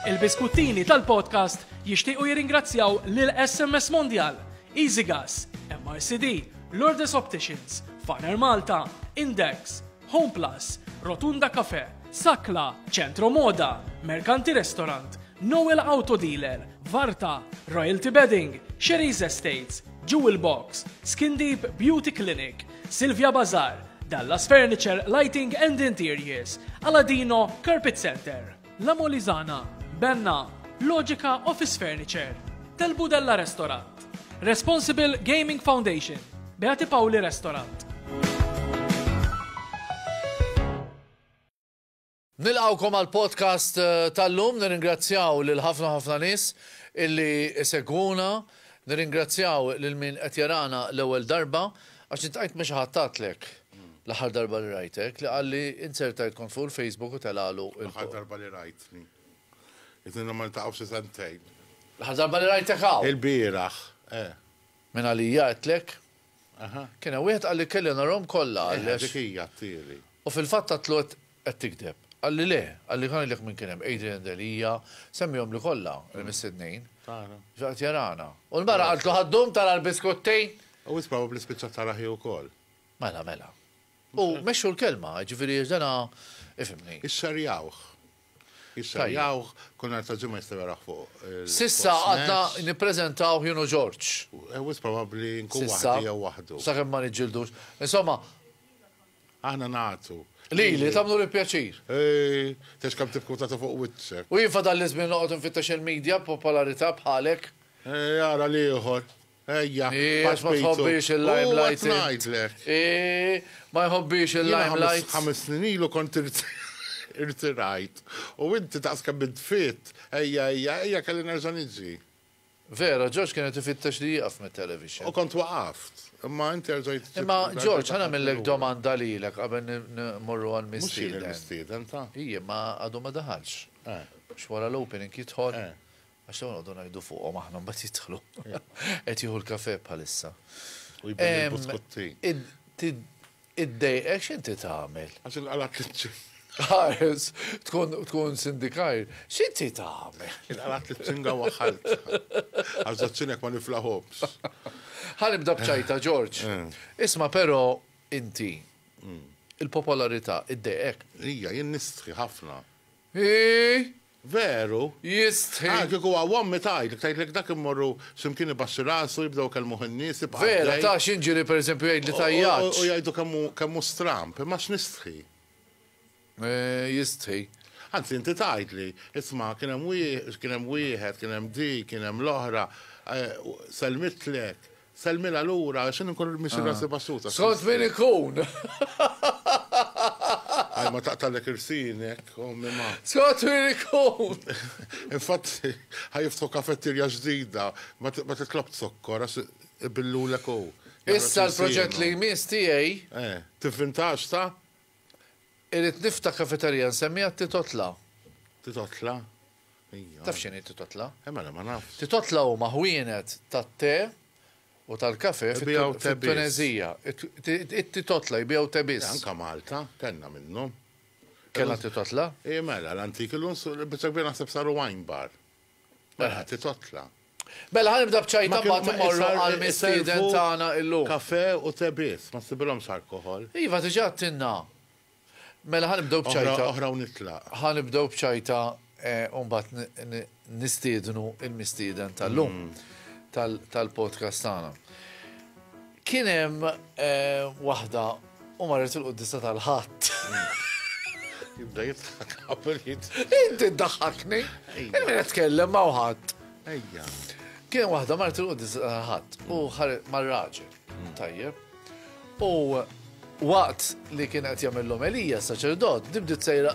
Il-biskuttini tal-podcast jixtiequ jirringrazzjaw lil SMS Mondial, Easy Gas, MRCD, Lourdes Opticians, Farner Malta, Index, Home Plus, Rotunda Cafe, Sakla, Centro Moda, Mercanti Restaurant, Noel Auto Dealer, Varta, Royalty Bedding, Sherry's Estates, Jewel Box, Skin Deep Beauty Clinic, Silvia Bazar, Dallas Furniture, Lighting and Interiors, Aladino, Carpet Center, La Molizana, Benna, Logica Office Furniture, Del Budella Restaurant, Responsible Gaming Foundation, Beati Pauli Restaurant. Nilqgħukom għall-podcast tal-lum. Nirringrazzjaw lil ħafna ħafna nies illi isegwuna. Nirringrazzjaw lil min qed jarana l-ewwel darba, għax iltqajt ma' xi ħadd għatlek l-aħħar darba li rajtek li qalli inzerta id kont fuq il-Facebook u telagħlu il-. L-aħħar darba li rajtni. Ilna ma niltaqgħux xi sentejn. L-aħħar darba li rajtek hawn. Ilbieraħ, eh. Minn għalija għedtlek. Aha. Kien hemm wieħed qalli kelli narahom kollha għalli għax. Eħe dik hi għattieli. U fil-fatt għadtlu qed qed tigdeb. Qalli le, qalli ħa ngħidlek min kien hemm, Adrian Delia, semmiehomli kollha il-mistednin. Tara. Ġo qed jarana. U l-mara qaltlu ħa ddum tara l-biskuttejn. U wisq probabbli spiċċat tara hi wkoll. Mela, mela. U mexxu l-kelma, jiġifieri għax dana, ifhimni. Ixxerjawh. Jissajjawh, kull nhar ta' ġimgħa jistgħu jarawh fuq il-Fox Match. S'issa għadna nippreżentawh jien u George. Wisq probabbli nkun waħdi jew waħdu. S'issa, sakemm ma niġġildux. Insomma. Aħna nagħtu. Lili, tagħmlu l-pjaċir. Tgħidx kemm tibki u tagħti fuq wiċċek. U jien fadalli żmien noqgħod infittex il-media b'popolarità bħalek. Ara l-ieħor. Ejja, pass ma tħobbix il-limelight. U ngħidlek. Ma jħobbix il-limelight. Ħames snin ilu kont irtirajt. U inti daqs kemm int fit, ejja, ejja, ejja kelli nerġa' niġi. Vera, George kien qed ifittex li jieqaf mit-television. U kont waqaft. Imma inti erġajt. Imma George, ħa nagħmillek domanda lilek qabel nimmorru għal mistieden. Mhux jien il-mistieden ta'. Ijiem, ma għadu ma daħalx. X'wara l-opening jidħol. Għax dawn noqogħdu ngħidu fuqhom aħna mbagħad jidħlu. Qed jieħu l-kafè bħalissa. U jibdel il-buskuttin. Iddejqek x'inti tagħmel? Għax inqala' tliċċin. Ħares, tkun sindikajr, x'inti tagħmel? Inqala' tliċċinga u aħħart. Għax żaċċin hekk ma niflahomx. Ħa nibda b'ċajta, Ġorġ. Isma' però inti, il-popolarità iddejqek? Hija, jien nistħi ħafna. Hi! Veru? Jistħi! Ara kieku huwa wommi tgħidlek, tgħidlek dak immorru x'imkien ibaxxi rasu, jibdew ikellmuh in-nies, ibqa' għaddej. Vera, ta' x'inġieli pereżempju jgħid li tajjatx. U jgħidu kemm hu, kemm hu stramb, imma x'nistħi. Jistħi. Anzi inti tgħidli, isma' kien hemm kien hemm wieħed, kien hemm dik, kien hemm l-oħra, sellmitlek, Sellmilha lura għax jien inkun irmixxi rasi baxxuta. Skont min ikun! Ħaj ma taqtallek irsienek, ommi ma. Skont min ikun! Infatti, ħa jiftħu kafettirja ġdida, ma titlob zokkor għax ibillulek hu. Issa l-proġett li jmiss tiegħi. Eh, tivvintax ta? Irrid nifta' kafeterija nsemmija Titotla. Titotla? Ija. Taf x'inhi Titotla? Eh mela ma nafx. Titotla huma ħwienet tat-te u tal-kafe fit-Tuneżija. It-Titotla jbigħu te biss. Anke Malta kellna minnhom. Kellna Titotla? Ija mela l-antik illum biċċa kbira naħseb saru wine bar. Mela ħa titotla. Mela ħa nibda b'ċajta mbagħad immorru għall-mistieden tagħna illum. Kafè u te biss, ma ssibilhomx alkoħol. Iva diġà għedtilna. Mela ħa nibdew b'ċajta. Oħra u nitlaq. Ħa nibdew b'ċajta u mbagħad nistiednu l-mistieden tal-lum tal-podcast tagħna. Kien hemm eh, waħda u marret il-quddisa tal-ħadd. Jibda jitħak qabel jitħak. Inti ddaħħakni. Min qed tkellem ma' ħadd. Ejja. Kien waħda marret il-quddisa tal-ħadd u ħaret mar-raġel. Mm. Tajjeb. U waqt li kien qed jagħmel l-omelija saċerdot, dibdit sejra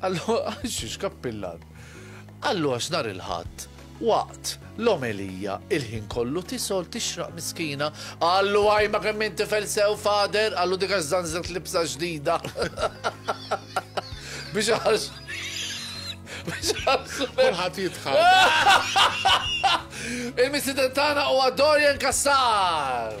Allura, x'kappillan. Allura x'nar il-Ħadd, waqt l-omelija il-ħin kollu tisol tixraq miskina, qallu għaj ma kemm inti felsew fader, qallu dik għax żanżet libsa ġdida. Biex għax. Biex għax. Kulħadd jitħadd. Il-misidentana u Dorian Kassar.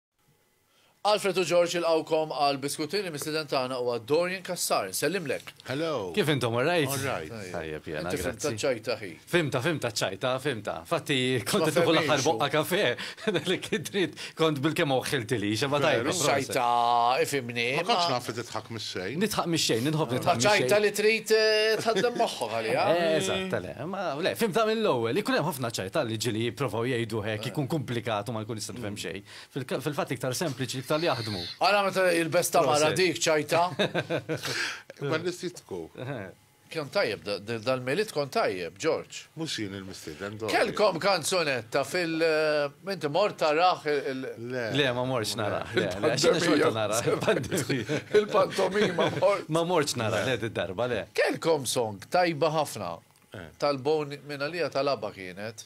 Alfred u George jilqgħukom għal biskutin, il-mistieden tagħna huwa Dorian Cassar, insellimlek. Hello. Kif intom, all right? All right. Tajjeb jiena, grazzi. Inti fhimt taċ-ċajta ħi. Fhimtha, fhimtha ċ-ċajta, fhimtha. Infatti kont qed nieħu l-aħħar boqqa kafè, li kien trid kont bilkemm oħħiltili, xemma tajba. Ċajta, ifhimni. Ma kontx naf li tidħak mix-xejn. Nidħaq mix-xejn, nidħobb nidħaq mix-xejn. Ma ċajta li trid eh, tħaddem moħħok għalija. Eh, eżatt, le, ma le, fhimtha mill-ewwel. Ikun hemm ħafna ċajta li ġili jipprovaw jgħidu hekk, ikun komplikat u ma jkun tifhem xejn. Fil-fatt iktar sempliċi iktar li jaħdmu. Ara meta jilbes tamara dik ċajta. Ma nisitku. Kjon tajjeb, dal-melit kon tajjeb, George. Mux jien il-mistiden do. Kelkom kanzunetta fil- eh, Minti mort taraħ il- Le, ma morċ naraħ. Il-pantomima mort. Ma morċ naraħ, le, darba le. Kelkom song tajba ħafna. Eh. Tal-boni minna lija tal-abba kienet.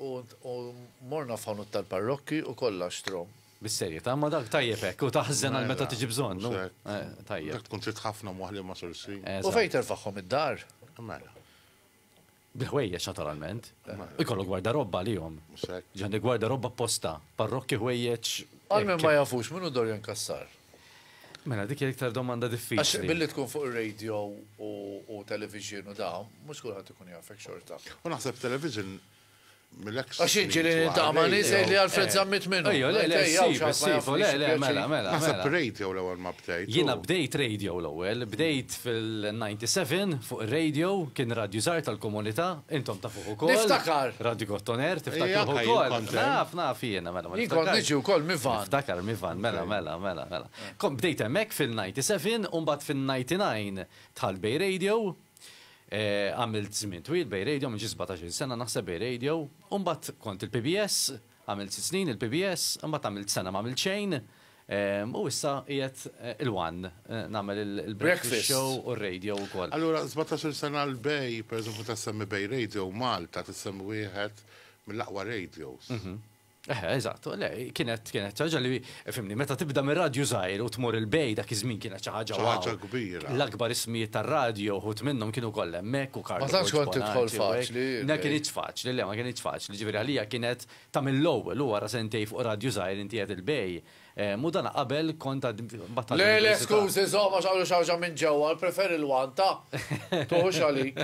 U morna f'ħanut tal-parrokki u kollha xtrom. Bis-serjetà, imma dak tajjeb hekk, u taħżen għal meta tiġi bżonn, hu? Tajjeb. Dak tkun trid ħafna mwaħli ma' sursi. U fejn terfagħhom id-dar? Mela. Bil-ħwejjeġ naturalment. Ikollok gwardarobba għalihom. Mhux hekk. Ġenn il-gwardarobba apposta, parrokki ħwejjeġ. Għal min ma jafux, min hu Dorian Cassar? Mela dik hija iktar domanda diffiċli. Għax billi tkun fuq ir-radio u television u dawn, mhux kulħadd ikun jafek xorta. U naħseb television mill-eks. Għax inġili niltaqa' ma' nies li Alfred Zammit minnu. Ejja, le, le, ejja, ejja, le, le, mela, mela. Naħseb radio l-ewwel ma bdejt. Jiena bdejt radio l-ewwel, bdejt fil-97 fuq ir-radio, kien radju żgħar tal-komunità, intom tafu. Niftakar. Radi Gottoner, tiftakar ukoll. Naf, naf jiena, mela. Jien kont niġi wkoll Mivan. Niftakar Mivan, mela, mela, mela, mela. Kom bdejt hemmhekk fil-97 u mbagħad fin-99 dħalt Bay Radio. Għamilt żmien twil Bay Radio, minn xi 17 sena naħseb Bay Radio. U mbagħad kont il-PBS, Għamilt sitt snin il-PBS, imbagħad għamilt sena m'għamilt xejn, u issa qiegħed il-one nagħmel il-breakfast show u r-radio wkoll. Allura sbatax-il sena l-Bay, pereżempju meta ssemmi Bay Radio, Malta tissemmi wieħed mill-aqwa radios. Eħe, eżatt, le, kienet, kienet xi ħaġa li, Fimni, meta tibda minn radju żgħir u tmur 'il bejn dak iż-żmien kienet xi ħaġa wow. Xi ħaġa kbira. L-akbar ismijiet tar-radju uħud minnhom kienu kollha hemmhekk u Carlo Borg. Ma tantx kont tidħol faċli. Ma kinitx faċli, le ma kinitx faċli. Jiġifieri għalija kienet ta' mill-ewwel u wara sentejn fuq radju żgħir inti qed 'il bejn. U dan qabel kont għad mbagħad tal-università. Le, le, skużi, żomm għax hawn xi ħaġa minn ġewwa, nippreferi l-one ta'. Tuħux għalik.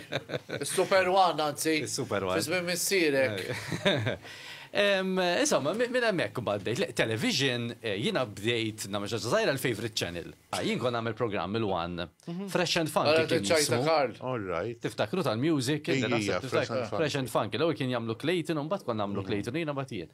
Is-super one anzi. Is-super one. Fi żmien missierek. Insomma, minn hemmhekk imbagħad bdejt, le, television, jiena bdejt nagħmel xi ħaġa żgħira l-favourite channel. Jien kont nagħmel programm il-one, Fresh and Funky. Ara t-ċajt ta' Karl. All right. Tiftakru tal-music? Ija, Fresh and Funky. Fresh and Funky. L-ewwel kien jagħmlu Clayton u mbagħad kont nagħmlu Clayton u jiena mbagħad jien.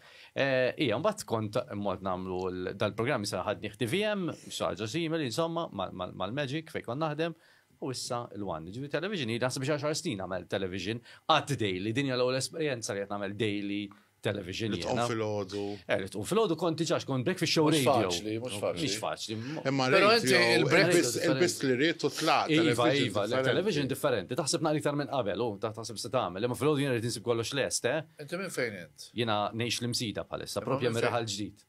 Ija, mbagħad kont immort nagħmlu dal-programm issa ħadni TVM, xi ħaġa simili, insomma, mal-Magic fejn kont naħdem. U issa l-one, jiġifieri television hi naħseb xi għaxar snin għamilt television qatt daily, din hija l-ewwel esperjenza li qed nagħmel daily television jiena. Li tqum filgħodu. Eh, li tqum filgħodu kont diġà kont bek fix-show radio. Mhux faċli, mhux faċli. Mhux faċli. Imma radio il-breakfast li rrid u tlaqt. Iva, iva, television differenti. Taħseb naqra iktar minn qabel, u taħseb se tagħmel. Imma filgħodu jiena rrid insib kollox lest, eh? Inti minn fejn int? Jiena ngħix l-imsida bħalissa, propja miraħal ġdid.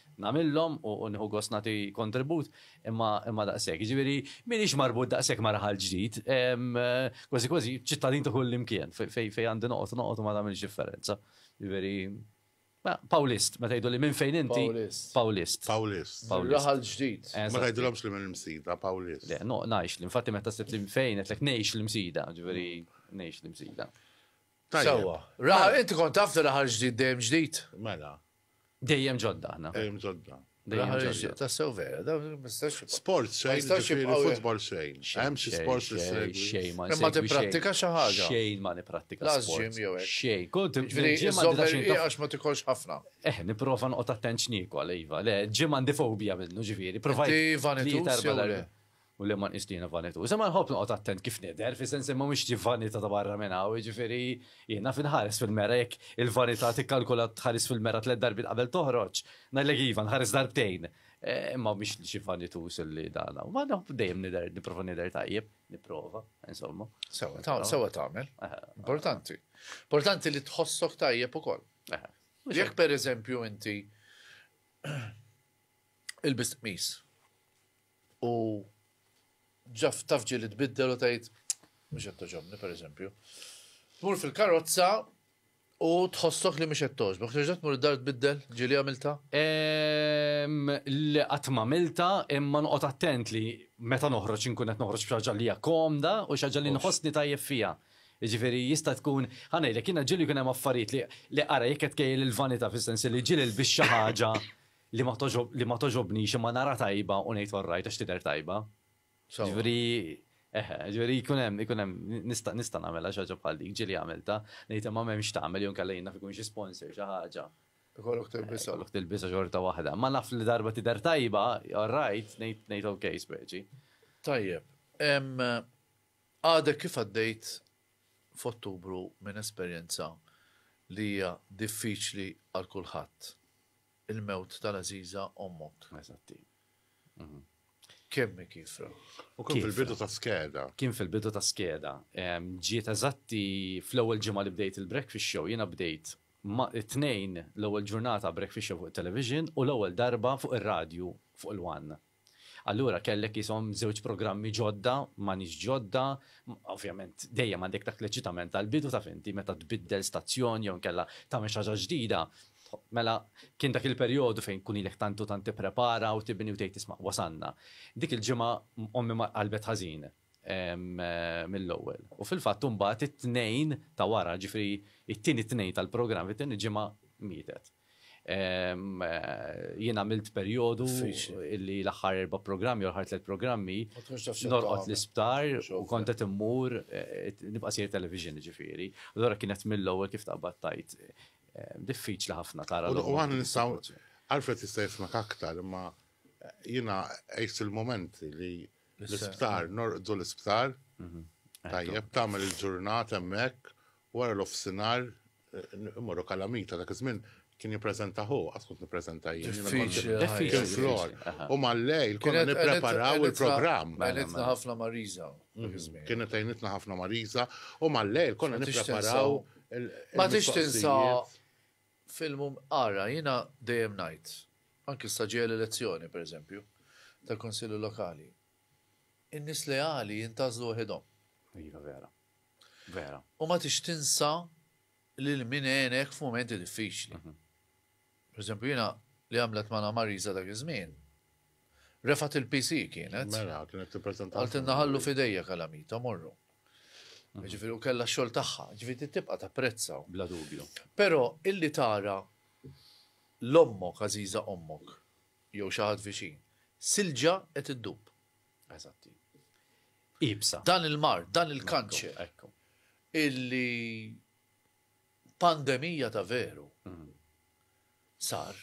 nagħmilhom u nieħu gost nagħti kontribut imma imma daqshekk. Jiġifieri m'iniex marbut daqshekk ma' raħal ġdid, kważi kważi ċittadin ta' kullimkien fejn fejn għandi noqgħod noqgħod u ma tagħmilx differenza. Jiġifieri Pawlist, meta jgħiduli minn fejn inti? Pawlist. Pawlist. Pawlist. Pawlist. Raħal ġdid. Ma tgħidilhomx li minn Msida, Pawlist. Le, no, ngħix li infatti meta sitt li fejn qed ngħix li Msida, ġifieri ngħix li Msida. Sewwa. Raħal inti kont taf li raħal ġdid dejjem ġdid? Mela. Dejjem ġodda aħna. Dejjem ġodda. Tassew vera, da mistax. Sport sejn, ġifiri futbol sejn. Hemm xi sport li sejn. Xejn ma Ma tipprattika xi ħaġa. Xejn ma nipprattika. Laż ġim jew hekk. Xejn. Kont ġim għax ma tikolx ħafna. Eh, nipprova noqgħod attent x'niekol, iva. Le, ġim għandi fobija minnu ġifieri. Provajt. Iva, u li ma nqis li jiena vanituż. Imma nħobb noqgħod attent kif nidher, fis-sens li ma mhux xi vanità ta' barra minn hawn, jiġifieri jien naf inħares fil-mera jekk il-vanità tikkalkula tħares fil-mera tliet darbiet qabel toħroġ, ngħidlek iva nħares darbtejn. Imma mhix xi vanituż li dan hawn. Ma naf dejjem nidher, nipprova nidher tajjeb, nipprova, insomma. Sewa, sewa tagħmel. Importanti. Importanti li tħossok tajjeb ukoll. Jekk pereżempju inti il-bistqmis U ġa taf ġieli tbiddel u tgħid mhux qed toġobni pereżempju. Tmur fil-karozza u tħossok li mhux qed toġbok, terġa' tmur id-dar tbiddel ġieli għamilta? Le qatt m'għamilta imma noqgħod attent li meta noħroġ inkun qed noħroġ b'xi ħaġa li hija komda u xi ħaġa li nħossni tajjeb fiha. Jiġifieri jista' tkun, ħa ngħidlek, jiena ġieli jkun hemm affarijiet li ara jekk qed tkejjel il-vanità fis-sens li ġieli lbist xi ħaġa li ma togħġob li ma togħġobnix imma nara tajba u ngħid orrajt għax tidher tajba. Sewwa. Ġifieri eħe, ġifieri jkun hemm ikun hemm nista' nista' nagħmilha xi ħaġa bħal dik ġieli għamiltha, ngħid imma m'hemmx tagħmel jew nkella jien naf ikun xi sponsor xi ħaġa. Ikollok tilbisha. Ikollok tilbisha xorta waħda. Ma naf li darba tidher tajba, orrajt, ngħid ngħid ok speċi. Tajjeb. Em, Għadek kif għaddejt f'Ottubru minn esperjenza li hija diffiċli għal kulħadd. Il-mewt tal-għażiża ommok. Eżatt, hi. Kemm hi kiefra. U kien fil-bidu ta' skeda. Kien fil-bidu ta' skeda. Ġiet eżatt hi fl-ewwel ġimgħa li bdejt il-Breakfast Show. Jiena bdejt it-Tnejn l-ewwel ġurnata Breakfast Show fuq it-television u l-ewwel darba fuq ir-radju fuq il-One. Allura kellek qishom żewġ programmi ġodda, m'għanix ġodda, ovvjament dejjem għandek dak l-eċitament tal-bidu taf inti meta tbiddel stazzjon jew inkella tagħmel xi ħaġa ġdida, mela kien dak il-perjodu fejn tkun ilek tant u tant tipprepara u tibni u tgħid isma' wasalna. Dik il-ġimgħa ommi qalbet ħażin. mill-ewwel. U fil-fatt imbagħad it-Tnejn ta' wara, ġifieri it-tieni Tnejn tal-programm, it-tieni ġimgħa mietet. Jien għamilt perjodu li l-aħħar erba' programmi, l-aħħar tliet programmi, norqod l-isptar u kont qed immur eh, nibqa' sir television ġifieri. Allura kienet mill-ewwel kif taqbad tajt eh, diffiċli ħafna tara. U għan nistaw, Alfred jista' jismak aktar, imma eh, jiena għajt il-moment li L-isptar, norqdu l-isptar. Mhm. Tajjeb, tagħmel il-ġurnata hemmhekk, wara l-offsinar, imorru kalamita dak iż-żmien kien jippreżenta hu, għad kont nippreżenta jien. Diffiċli. flor. U mal-lejl konna nippreparaw il-programm. Għajnitna ħafna Mariza. Mhm. Kienet għajnitna ħafna Mariza u mal-lejl konna nippreparaw. Ma tix tinsa F'ilmhom ara, jiena dejjem ngħid, anki issa ġejja l-elezzjoni, per eżempju, tal-Kunsilli Lokali, in-nies leali jintgħażlu waħidhom. Iva, vera. Vera. U ma tix tinsa lil min għenek f'mumenti diffiċli. Mhm. Per eżempju, jiena li għamlet ma' Marisa dak iż-żmien, Refat il-PC kienet. Mela, kienet t-prezenta. Għaltinna ħallu fidejja kalamita, morru. Mm. Ġifiri, u kella xol taħħa, ġifiri tibqa ta' prezza. Bla dubju. Pero, illi tara l-ommok, għaziza ommok, jew xaħat viċin, silġa et id-dub. Eżatti. Ibsa. Dan il-mar, dan il-kanċer. Ekku. Illi pandemija ta' veru mm. sar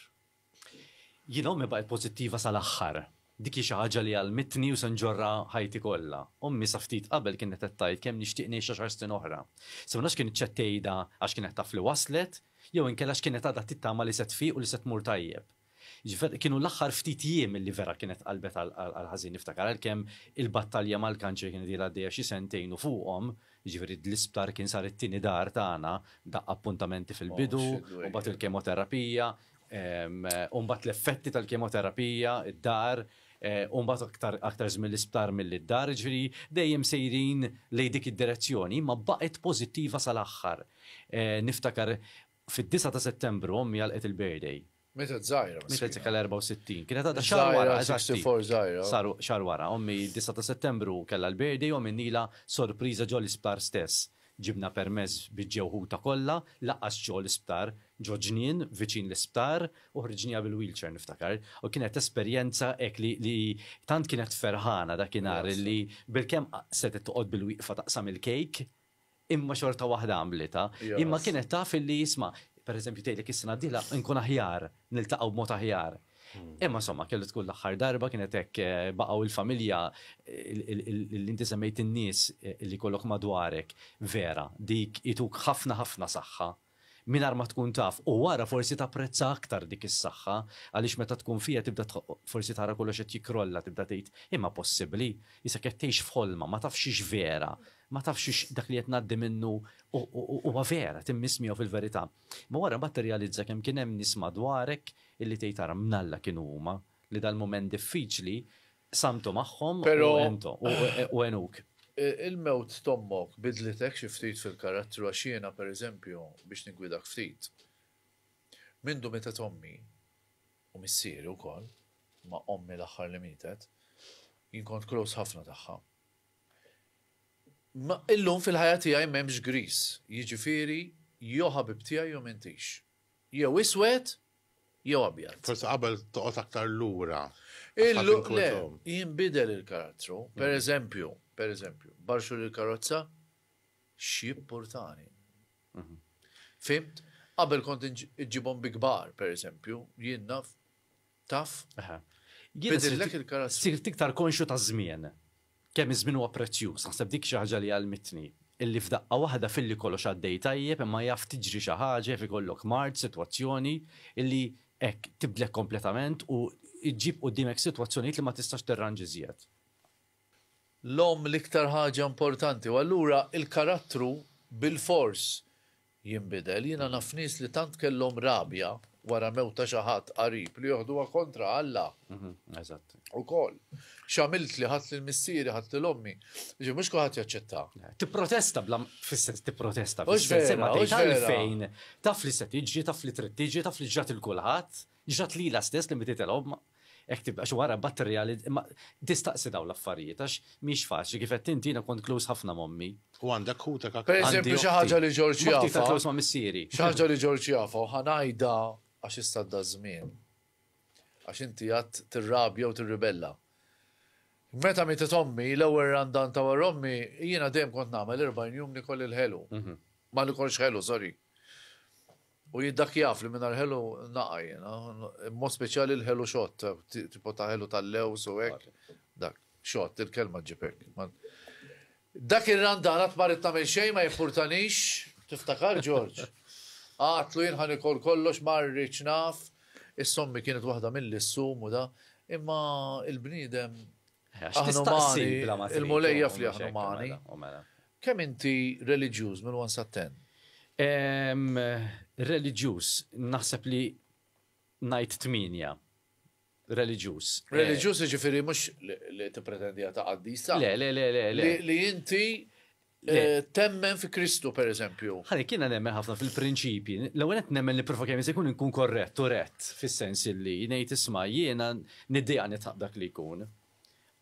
Jien ommi baqgħet pożittiva sal-aħħar. Dik hi xi ħaġa li għallmitni u se nġorrha ħajti kollha. Ommi sa ftit qabel kienet qed tgħid kemm nixtieq ngħix għaxar snin oħra. Se ma nafx kienet x'qed tgħidha għax kienet taf li waslet, jew inkella x'kienet għadha tittama li se tfiq u li se tmur tajjeb. Jiġifier, kienu l-aħħar ftit jiem li vera kienet qalbet għall-ħażin. Niftakar għalkemm il-battalja mal-kanċer kienet ilha għaddejja xi sentejn u fuqhom, Jiġifieri l-isptar kien sar it-tieni dar tagħna, daqqa appuntamenti fil-bidu, u mbagħad il-kemoterapija, u mbagħad l-effetti tal-kemoterapija, id-dar, u mbagħad aktar żmien l-isptar milli d-dar, jiġifieri dejjem sejrin lejn dik id-direzzjoni, imma baqgħet pożittiva sal-aħħar. Niftakar Fid-disgħa ta' Settembru ommi għalqet il-birthday. Mietet żgħira, miskina. Mietet se kellha 64. Kienet għadha xahar wara, eżatti. Żgħira, 64 żgħira. Saru xahar wara. Ommi d-disgħa ta' Settembru kellha l-birthday u għamilnielha sorpriża ġo l-isptar stess. Ġibna permess biex ġew ħutha kollha, lanqas ġo l-isptar, ġo ġnien viċin l-isptar u ħriġniha bil-wheelchair niftakar. U kienet esperjenza hekk li li tant kienet ferħana dakinhar li bilkemm setgħet toqgħod bilwieqfa taqsam il-cake imma xorta waħda għamlitha. Imma kienet taf illi isma', pereżempju tgħidlek is-sena d-dieħla nkun aħjar, niltaqgħu b'mod aħjar. Imma insomma kellu tkun l-aħħar darba kienet hekk baqgħu l-familja li inti semmejt in-nies li jkollok madwarek vera dik ituk ħafna ħafna saħħa. Mingħajr ma tkun taf u wara forsi tapprezza aktar dik is-saħħa għaliex meta tkun fiha tibda forsi tara kollox qed jikkrolla tibda tgħid imma possibbli? Isek qed tgħix f'ħolma ma tafx hix vera, ma tafx hix dak li qed ngħaddi minnu huwa vera, timmiss miegħu fil-verità. Imma wara mbagħad tirrealizza kemm kien hemm nies madwarek illi tgħid ara mnalla kienu huma li dal-mument diffiċli Qsamtu magħhom u għenthom u għenuk. Il-mewt t'ommok bidlitek xi ftit fil-karattru għax jiena, pereżempju, biex niggwidak ftit, mindu mietet ommi, u missieri wkoll, imma ommi l-aħħar li mietet, jien kont close ħafna tagħha. Imma illum fil-ħajja tiegħi m'hemmx griż, jiġifieri jew ħabib tiegħi jew m'intix. Jew iswed jew abjad. Forsi qabel toqgħod aktar lura. Il-luq le, jinbidel il-karattru. Per eżempju, per eżempju, barxu l-karozza, x'jippurtani. Fhimt? Qabel kont iġġibhom bi kbar, per eżempju, jien naf Taf? Eħe. Bidillek il-karattru. Sirt iktar konxju taż-żmien. Kemm iż-żmien huwa prezzjuż. Naħseb dik xi ħaġa li għallmitni. Illi f'daqqa waħda filli kollox għaddej tajjeb imma jaf tiġri xi ħaġa, jaf ikollok mard, sitwazzjoni, illi hekk, tibdlek kompletament u ġġib quddiemek sitwazzjonijiet li ma tistax tirranġa iżjed. L-omm l-iktar ħaġa importanti u allura l-karattru bilfors jinbidel. Jiena naf nies li tant kellhom rabja wara mewt ta' xi ħadd qarib li joħduha kontra Alla ukoll. X'għamiltli, ħadt lil missieri, ħadt lil ommi. Jiġifieri mhux kulħadd jaċċetta. Tipprotesta bla fis-sens tipprotesta fis-sens imma tgħid għalfejn taf li se tiġri, taf li trid tiġi, taf li ġrat lil kulħadd. Ġrat lilha stess li mititilhom, hekk tibda, għax wara mbagħad tirreali, imma tistaqsi dawn l-affarijiet għax mhix faċli, kif għedt inti jiena kont close ħafna m'ommi. U għandek ħutek aktar? Pereżempju xi ħaġa li Ġorġ jafha. Moħħi iktar close ma' missieri. Xi ħaġa li Ġorġ jafha u ħa ngħidha għax issa għadda ż-żmien. Għax inti għad tirrabja u tirribella. Meta mietet ommi, l-ewwel randan ta' wara ommi, jiena dejjem kont nagħmel 40 jum nikol il-ħelu. Ma nikolx ħelu, sorry. U jien dak jaf li mingħajr ħelu naqa' jiena, b'mod speċjali l-ħelu xott, tipo ta' ħelu tal-lewż u hekk. Dak, xott, il-kelma ġġib hekk. Dak ir-randan qatt ma ridt nagħmel xejn ma jimpurtanix, tiftakar Ġorġ? Għadtlu jien ħa nikol kollox ma rridx naf, is-sommi kienet waħda milli ssum u da, imma l-bniedem Aħna umani, il-Mulej jaf li aħna umani. Kemm inti reliġjuż minn 1 sa 10? Reliġjuż, naħseb li ngħid 8 reliġjuż. Eh, reliġjuż jiġifieri mhux li tippretendi ta' qaddisa. Le, le, le, le. Li inti Eh, temmen fi Kristu, per eżempju. Ħalli kiena nemmen ħafna fil-prinċipji. L-ewwel qed nemmen li profa kemm se jkun inkun korrett u rett fis-sens li ngħid isma' jiena niddeja nitħaq dak li jkun.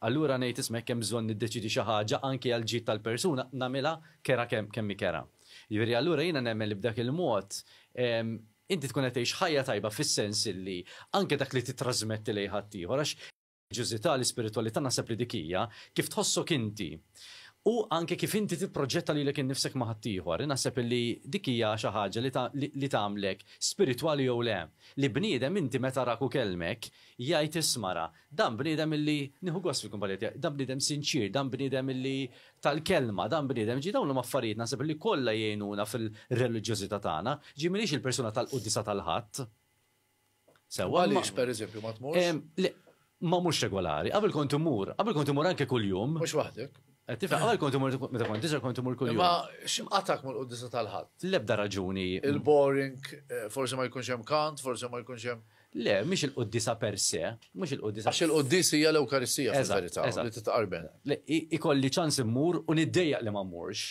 Allura ngħid isma' kemm bżonn niddeċidi xi ħaġa anke għal ġid tal-persuna nagħmilha kera kemm kemm kera. Jiġifieri allura jiena nemmen li b'dak il-mod inti tkun qed tgħix ħajja tajba fis-sens li anke dak li titrasmetti lejn ħaddieħor għax Ġużità, l-ispiritwalità naħseb li dik hija kif tħossok inti u anke kif inti tipproġetta lilek innifsek ma' ħaddieħor. Inaħseb illi dik hija xi ħaġa li li tagħmlek spiritwali jew le. Li bniedem inti meta arak u kellmek jgħid isma' ra, dan bniedem illi nieħu gost fil-kumpanija tiegħi, dan bniedem sinċier, dan bniedem illi tal-kelma, dan bniedem ġie dawn huma affarijiet naħseb illi kollha jgħinuna fil-reliġjożità tagħna. Ġie m'iniex il-persuna tal-quddiesa tal-Ħadd. Sewa. Għaliex, per eżempju, ma tmurx? Ma mhux regolari, qabel kont imur, qabel kont imur anke kuljum. Mhux waħdek. Eh, Tifaq, qabel kont imur, meta kont iżgħar kont imur kuljum. Ma x'imqatak mal-quddisa tal-ħadd? L-ebda raġuni. Il-boring, eh, forsi ma jkunx hemm kant, forsi ma jkunx hemm. Le, mhix il-quddisa per se, mhux il-quddisa. Għax il-quddis hija l-Ewkaristija fil-verità li titqarben. Le, ikolli ċans immur u niddejjaq li ma mmurx.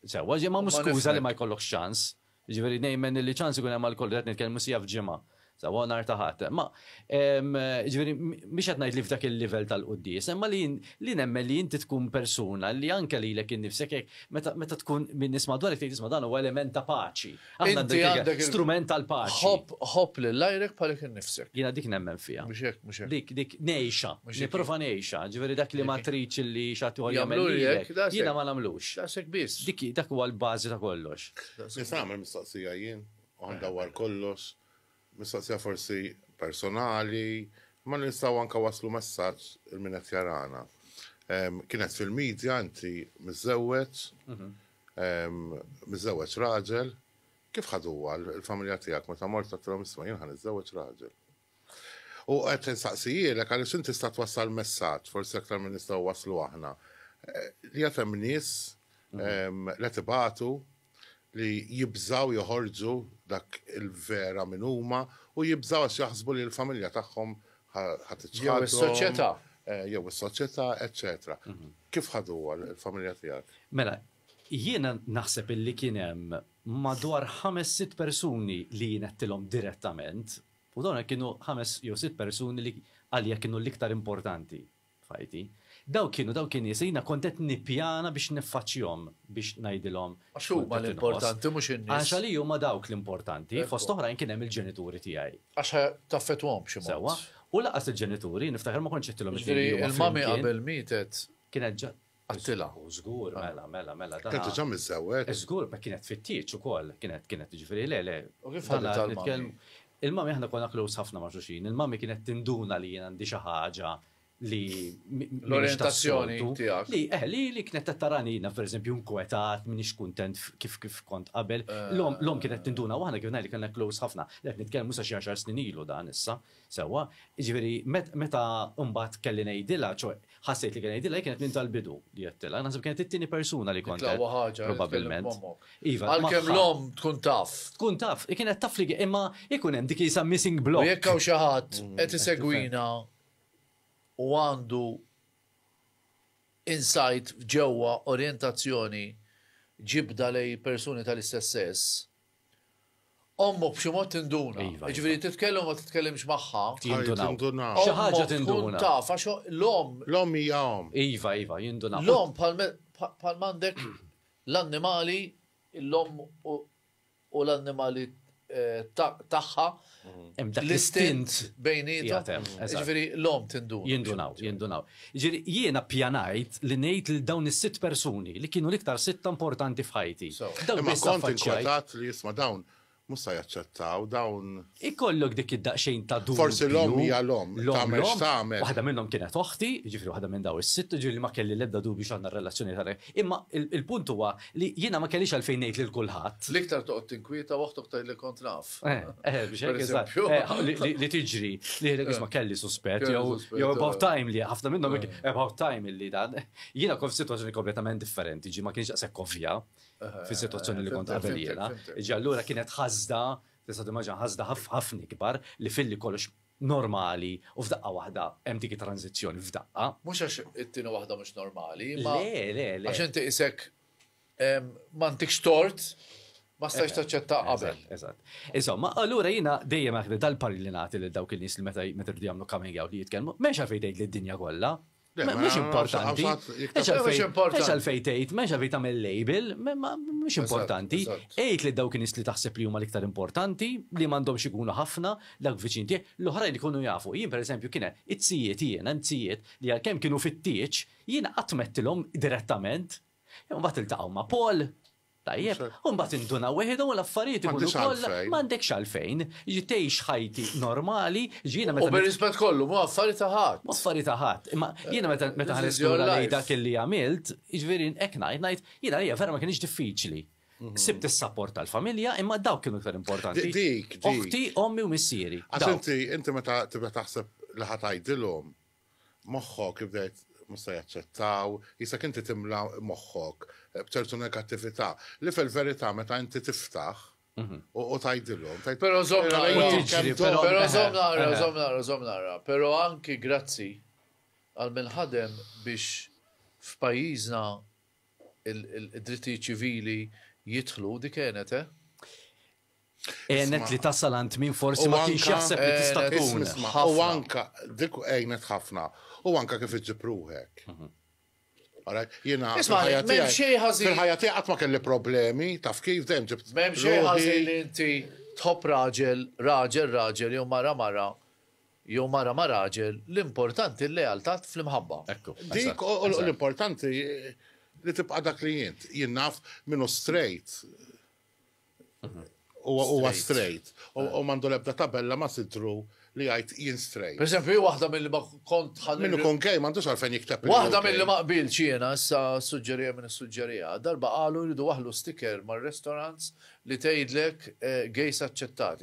Sewwa, ġej ma mhux skuża li ma jkollokx ċans. Jiġifieri nemmen li ċans ikun hemm għal kollox, qed nitkellmu siegħa f'ġimgħa. Sewwa nhar ta' Ħadd. Ma jiġifieri mhux qed ngħid li f'dak il-livell tal-quddies, imma li li nemmen li inti tkun persuna li anke lilek innifsek hekk meta tkun min nies madwarek tgħid isma' dan huwa element ta' paċi. Aħna Inti għandek għandek il- strument tal-paċi. Ħobb ħobb lil għajrek bħalek innifsek. Jiena dik nemmen fiha. Mhux hekk, mhux hekk. Dik dik ngħixha, Mhux hekk. nipprova ngħixha, ġifieri dak li ma Dik- tridx li xatt ieħor Jagħmlu jagħmel lilek, lilek, daqshekk. jiena ma nagħmlux. Daqshekk biss. Dik dak huwa l-bażi ta' kollox. Nista' nagħmel mistoqsija jien u għandha war kollox Mistoqsija forsi personali, imma nistgħu anke wasslu messaġġ il min qed jarana. Kienet fil-media inti miżżewweġ, miżżewweġ raġel, kif ħaduha l-familja tiegħek meta mort għedtilhom isma' jien ħa niżżewweġ raġel? U qed insaqsijilek għaliex inti tista' twassal messaġġ forsi aktar minn nistgħu wasslu aħna li għad hemm nies li qed ibatu, li jibżgħu joħorġu dak il-vera min huma u jibżgħu għax jaħsbu li l-familja tagħhom ħa tiċħadhom. Jew is-soċjetà. Jew is-soċjetà, eċċetera. Kif ħaduha l-familja tiegħek? Mela, jiena naħseb illi kien hemm madwar ħames sitt persuni li jien għedtilhom direttament u dawn kienu ħames jew sitt persuni li għalija kienu l-iktar importanti. f'ħajti. Dawk kienu dawk in-nies li jiena kont qed nippjana biex niffaċċjhom, biex ngħidilhom x'kont qed inħoss. Għax huma l-importanti, mhux in-nies. Għax għalija huma dawk l-importanti, fost oħrajn kien hemm il-ġenituri tiegħi. Għax ħa taffettwahom b'xi mod. Sewwa. U lanqas il-ġenituri, niftakar ma kontx għedtilhom li kienu huma flimkien. Jiġifieri l-mummy qabel mietet. Kienet ġa. Għattilha. Hu żgur, mela, mela, mela, dan. Kien diġà miżżewweg. Żgur, b'hekk kienet tfittiġ ukoll, kienet, kienet, jiġifieri le, le. U kif ħaditha l-mummy? Il-mummy aħna konna close ħafna ma' xulxin, il-mummy kienet tinduna li jien għandi xi ħaġa li mhix tas-soltu. Li, eh, li, li kienet qed tarani jiena pereżempju inkwetat, m'iniex kuntent kif, kif kont qabel. L-omm, l-omm kienet tinduna u aħna kif ngħidlek kellna close ħafna. Le qed nitkellmu sa xi għaxar snin ilu dan issa, Sewwa, jiġifieri meta mbagħad kelli ngħidilha, ċoe ħassejt li kelli ngħidilha, hi kienet minn tal-bidu li għedtilha. Naħseb kienet it-tieni persuna li kont. L-aqwa ħaġa probabbilment. Iva, għalkemm l-omm tkun taf. Tkun taf, hi kienet taf li imma ikun hemm dik jisa missing block. Jekk hawn xi ħadd mm, qed isegwina u għandu insight ġewwa orjentazzjoni ġibda lej persuni tal-istess sess, Ommu b'xi mod tinduna. Iva, iva. Jiġifieri titkellem u ma titkellimx magħha. Jindunaw. Jindunaw. Xi ħaġa Ommu tkun tinduna. taf għax l-omm L-om hija om. Iva, iva, jindunaw. l-omm bħal me- bħal bħal m'għandek l-annimali, l-omm u u l-annimali eh, ta- tagħha, Hemm dak l-istint bejnietom. Ġifieri l-om tindunaw. Jindunaw, jindunaw. Ġifieri jiena pjanajt li ngħid lil dawn is-sitt persuni li kienu l-iktar sitta importanti f'ħajti. Imma kont inkwetat li isma' dawn mhux se jaċċettaw, dawn. Ikollok dik id-daqsxejn ta' dubju. Forsi l-omm hija l-omm, tagħmel x'tagħmel. Waħda minnhom kienet oħti, jiġifieri waħda minn dawn is-sitt, jiġifieri ma kelli l-ebda dubju x'għandna r-relazzjoni tagħna. Imma il-punt huwa li jiena ma kellix għalfejn ngħid lil kulħadd. L-iktar toqgħod tinkwieta u oħtok tgħidlek kont naf. Li tiġri, li jgħidlek isma' kelli suspett, jew about time li ħafna minnhom about time li dan. Jiena kont f'sitwazzjoni kompletament differenti, ġi ma kienx daqshekk ovvja fis-sitwazzjoni li kont qabel jiena. Ġi allura kienet ħasda, tista' timmaġina ħasda ħafna ikbar li filli kollox normali u f'daqqa waħda hemm dik it-tranżizzjoni f'daqqa. Mhux għax it-tieni waħda mhux normali, imma għax inti qisek m'għandikx tort ma stajx taċċetta qabel. Eżatt. Insomma, allura jiena dejjem aħna dal-parri li nagħti lil dawk il-nies li meta jridu jagħmlu coming out li jitkellmu, m'hemmx għalfejn tgħid lid-dinja kollha, Mux importanti. Mux għalfej tejt, mux għalfej tamel label, mux importanti. Ejt li dawk nis li taħseb li huma l-iktar importanti, li mandom xikunu ħafna, dak viċin tiegħek, l-oħrajn li kunu jafu. Jien per eżempju kiena it-sijiet jiena, it-sijiet li għalkemm kienu fit-tieċ, jiena qatt mettilhom direttament. Mbagħad iltaqgħu ma' Paul, Tajjeb, u mbagħad induna wieħidhom u l-affarijiet ikunu kollha. M'għandekx għalfejn. Jiġifieri tgħix ħajti normali, jiġifieri jiena meta. U bir-rispett kollu, mhu affari ta' ħadd. Mhu affari ta' ħadd, imma jiena meta ħarist lura lejn dak li għamilt, jiġifieri hekk ngħid, ngħid jiena għalija vera ma kinitx diffiċli. Sibt is-sapport tal-familja, imma dawk kienu iktar importanti. Dik, dik. Oħti, ommi u missieri. Għax inti, inti meta tibda taħseb li ħa tgħidilhom, Moħħok bdejt mhux se jaċċettaw, qisek inti timla moħħok b'ċertu negattività, li fil-verità meta inti tiftaħ u tgħidilhom. Però żomm nara, però żomm nara, żomm nara, żomm nara, però anki grazzi għal min ħadem biex f'pajjiżna d-drittijiet ċivili jidħlu, dik għenet, eh? Għenet li tasal għand min forsi ma kienx jaħseb li tista' tkun. U anka dik għenet ħafna. U anka kif iġib ruħek. Mhm. Jena, fil-ħajja tiegħi qatt ma kelli problemi, taf kif dejjem ġibt. M'hemm xejn ħażin li inti tħobb raġel, raġel, raġel jew mara mara jew mara ma raġel, l-importanti l-lealtà fl-imħabba. Dik l-importanti li tibqa' dak li jint. Jien naf minnu straight Huwa straight. U mandu lebda tabella ma sidru li jgħid jien straight. Per eżempju, jien waħda milli ma kont ħalli. Min ikun gay m'għandux għalfejn jikteb. Waħda milli ma qbiltx jiena issa ssuġġerija min issuġġeriha. Darba qalu jridu waħlu sticker mar-restaurants li tgħidlek gays aċċettati.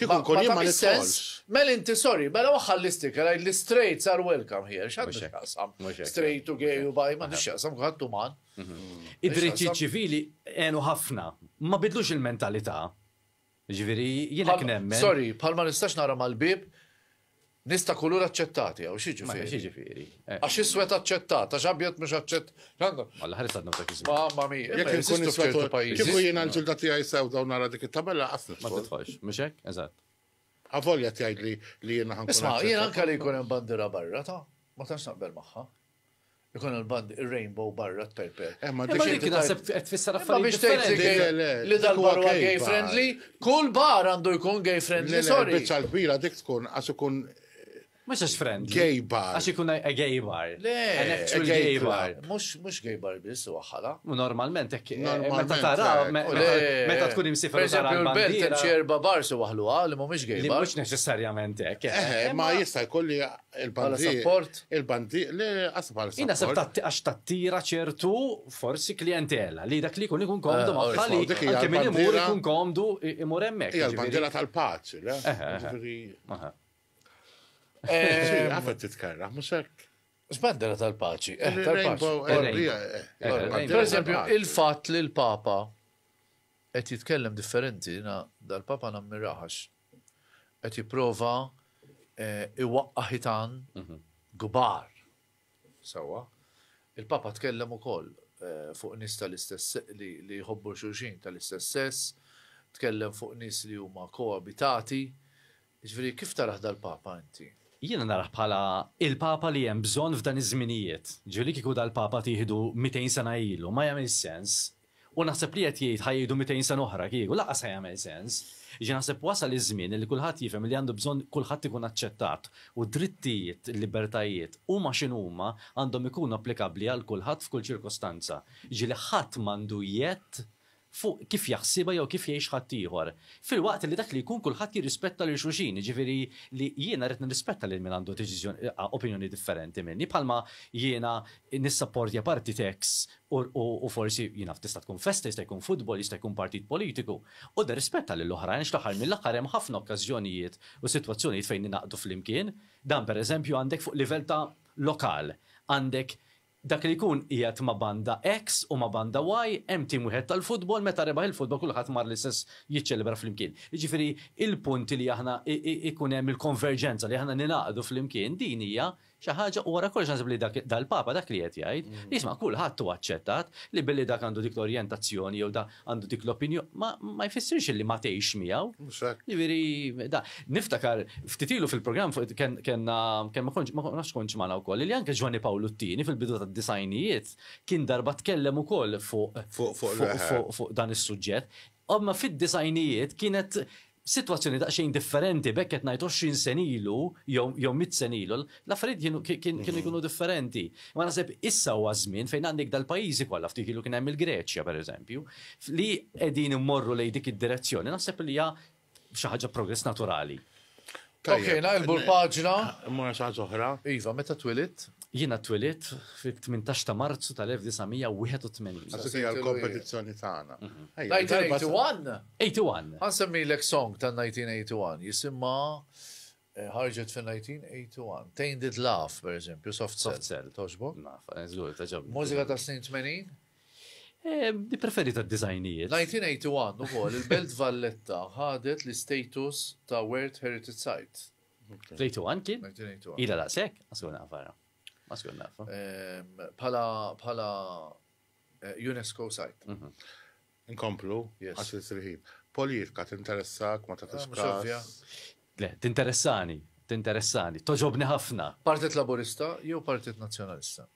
Kieku nkun jien ma nidħolx. Mel inti sorry, mela waħħa l-isticker għajd li straights are welcome here. X'għandu x'jaqsam? Straight u gay u baj, m'għandu x'jaqsam kulħadd uman. Id-drittijiet ċivili għenu ħafna, ma bidlux il-mentalità. Ġifieri jiena kien hemm. Sorry, bħal ma nistax nara mal-bieb Nies ta' kulur aċċettati hawn x'jiġifieri? Ma jiġifieri. Eh. Għax iswed aċċettat, għax abjad mhux aċċett. Alla ħares għadna ta' kiżmu. Mamma mia, jekk ikun iswed pajjiż. Kieku jiena l-ġilda tiegħi sew dawn nara dik it-tabella qas Ma titħolx, mhux hekk? Eżatt. Avolja tgħid li li jiena ħankun. Isma' jiena anke li jkun hemm bandira barra ta' ma tantx naqbel magħha. Ikun l-band ir-rainbow barra t-tajpe. Imma dik naħseb qed tfisser affarijiet differenti. Li dal-bar huwa gay friendly, kull bar għandu jkun gay friendly, sorry. Biċċa l-kbira dik tkun għax ikun Mux għax friendly. Gay bar. Għax ikun a gay bar. Le, an actual gay bar. Mux, mux gay bar bis, u għaxħala. Normalment, ekki. Meta tara, meta tkun imsifra. Per esempio, l-belt ċerba bar su għahlu għal, mux gay bar. Mux neċessarjament, ekki. Ma jista jkolli Bħala support? Il-bandi, le, għas bħala support. Jina sepp għax tattira ċertu forsi klientela li dak li kun ikun komdu eh, maħħa li anke minn imur ikun komdu imur emmek. Ija l-bandira tal-paċi, le? Għafet titkarra, muxek. Bandira tal-paċi. Eh, per esempio, il-fat li l-Papa qed jitkellem differenti, dal-Papa nammiraħax qed jipprova jwaqqa' ħitan kbar. Sewwa. Il-Papa tkellem ukoll fuq nies tal-istess li jħobbu xulxin tal-istess sess, tkellem fuq nies li huma koabitati. Jiġifieri kif tarah dal-Papa inti? Jiena narah bħala l-Papa li hemm bżonn f'dan iż-żminijiet. Jiġifieri li kieku dal-Papa tieħdu mitejn sena ilu ma jagħmilx sens U naħseb li qed jgħid ħa jgħidu mitejn sena oħra kieku, lanqas ħa jagħmel sens. Jiġifieri naħseb wasal iż-żmien li kulħadd jifhem li għandu bżonn kulħadd ikun aċċettat u d-drittijiet, il-libertajiet, huma x'inhuma, għandhom ikunu applikabbli għal kulħadd f'kull ċirkostanza. Jiġifieri ħadd m'għandu jgħedd fuq kif jaħsibha jew kif jgħix ħaddieħor. Filwaqt li dak li jkun kulħadd jirrispetta lil xulxin, jiġifieri li jiena rrid nirrispetta lil min għandu deċiżjoni, opinjoni differenti minni, bħalma jiena nissapportja partit X u forsi, jien naf, tista' tkun festa, jista' jkun futbol, jista' jkun partit politiku, u nirrispetta lil oħrajn għax fl-aħħar mill-aħħar hemm ħafna okkażjonijiet u sitwazzjonijiet fejn ningħaqdu flimkien. Dan pereżempju għandek fuq livell ta' lokal, għandek dak li jkun qiegħed ma' banda X u ma' banda Y, hemm tim wieħed tal-futbol, meta rebaħ il-futbol kulħadd mar l-istess jiċċelebra flimkien. Jiġifieri, il-punt li aħna ikun hemm il-konverġenza, li aħna ningħaqdu flimkien, din hija Xi ħaġa, u wara kollox naħseb li dak dal-Papa dak li qed jgħid, isma' kulħadd hu aċċettat li billi dak għandu dik l-orjentazzjoni jew da għandu dik l-opinjo, ma ma jfissirx illi ma tgħixx miegħu. Mhux hekk. Jiġifieri da niftakar ftit ilu fil-programm fuq ken kellna kemm ma kontx ma nafx kontx magħna wkoll li anke Ġwanni Pawlu t-Tieni fil-bidu tad-disgħinijiet kien darba tkellem ukoll fuq Fuq fuq l-eħe. fuq fuq dan is-suġġett. Imma fid-disgħinijiet kienet Sitwazzjoni daqsxejn differenti, b'hekk qed ngħid 20 sena ilu jew mitt sena ilu, l-affarijiet kienu jkunu differenti. Imma naħseb issa huwa ż-żmien fejn għandek dal-pajjiżi kollha, ftit ilu kien hemm il-Greċja pereżempju, li qegħdin immorru lejn dik id-direzzjoni, naħseb li hija xi ħaġa progress naturali. Ok, naqilbu l-paġna. Mora xaħġa oħra. Iva, meta twilit? Jiena twilit fit-18 ta' Marzu tal-1981. Għasik hija l-kompetizzjoni tagħna. 1981? Mhm. 81. Għansemmi l song ta' 1981 jisimma eh, ħarġet fin 1981. Tainted Love, per eżempju, Soft Cell. Soft Cell. Toġbok? Naf, eh, żgur, taġobni. Mużika ta' snin 80? Nippreferi tad-diżajnijiet. 1981 ukoll il-Belt Valletta ħadet l-istatus ta' World Heritage Site. 1981 kien? 1981. Ila daqshekk? Ma skur nafara. Ma skur nafa. Bħala eh, UNESCO site. Mhm. Inkomplu, għax il-sirħin. Politika tinteressak, ma ta' ah, Le, tinteressani, tinteressani, toġobni ħafna. Partit Laburista jew Partit Nazzjonalista?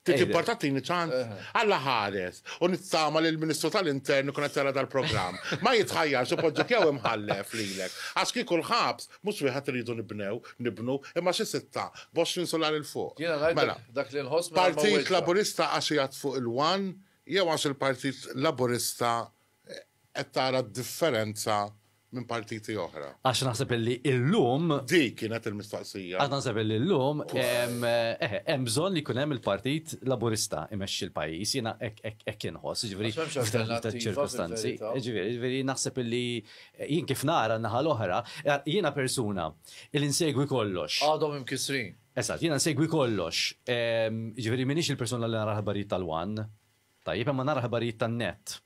Tiġi portatini ċans? Alla ħares, u nittama li l-Ministru tal-Intern ikun qed jara dal-programm. Ma jitħajjarx ipoġġek jew imħallef lilek. Għax kieku l-ħabs, mhux wieħed iridu nibnew, nibnu, imma xi sitta, b'għoxrin sular 'il fuq. Jiena ngħidlek Mela, dak li nħoss mingħajr ma Partit wegħġbek. Laburista għax qiegħed fuq il-one jew għax il-Partit Laburista Qed tara d-differenza minn partiti oħra? Għax naħseb li illum. Dik kienet il-mistoqsija. Għax naħseb li illum hemm bżonn li jkun hemm il-Partit Laburista imexxi l-pajjiż, jiena hekk inħoss, ġifieri ċirkostanzi. Ġifieri naħseb li jien kif nara naħa l-oħra, jiena persuna li nsegwi kollox. Għadhom imkisrin. Eżatt, jiena nsegwi kollox. Ġifieri m'iniex il-persuna li nara l-ħbarijiet tal-wan. Tajjeb, imma nara ħabarijiet tan-nett.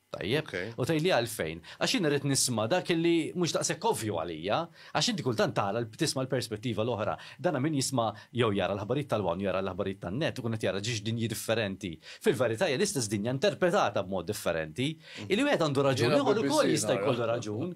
Tajjeb? Ok. U tgħidli għalfejn. Għax jien irrid nisma' dak illi mhux daqshekk ovvju għalija. Għax inti kultant tara l- tisma' l-perspettiva l-oħra. Dana min jisma' jew jara l-ħabarijiet tal-one u jara l-ħabarijiet tan-nett ikun qed jara ġiex dinji differenti. Fil-verità hija l-istess dinja interpretata b'mod differenti. Illi wieħed għandu raġun, Jiena ieħor ukoll BBC jista' nara. jkollu raġun.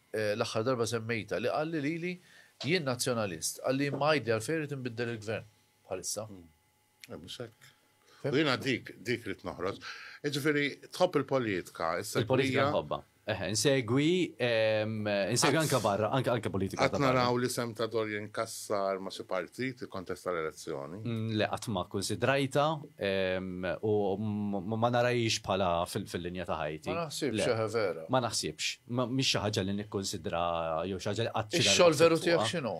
l-aħħar darba semmejtha, li qalli lili, jien Nazzjonalist, qalli imma għidli għalfejn irid inbiddel il-Gvern bħalissa. Mhux hekk. U jiena dik, dik rrid noħroġ. Jiġifieri tħobb il-politika, issa. Il-politika nħobbha. Eħe, insegwi, insegwi anke barra, anke anke politika. Qed naraw li sem ta' Dorian Kassar ma' xi partit ikkontesta l-elezzjoni. Le qatt ma kkunsidrajta U ma narahiex bħala fil-linja ta' ħajti. Ma naħsibx, eħe vera. Ma naħsibx. Mhix xi ħaġa li nikkunsidra jew xi ħaġa li qatt xi Ix-xogħol veru tiegħek x'inhu?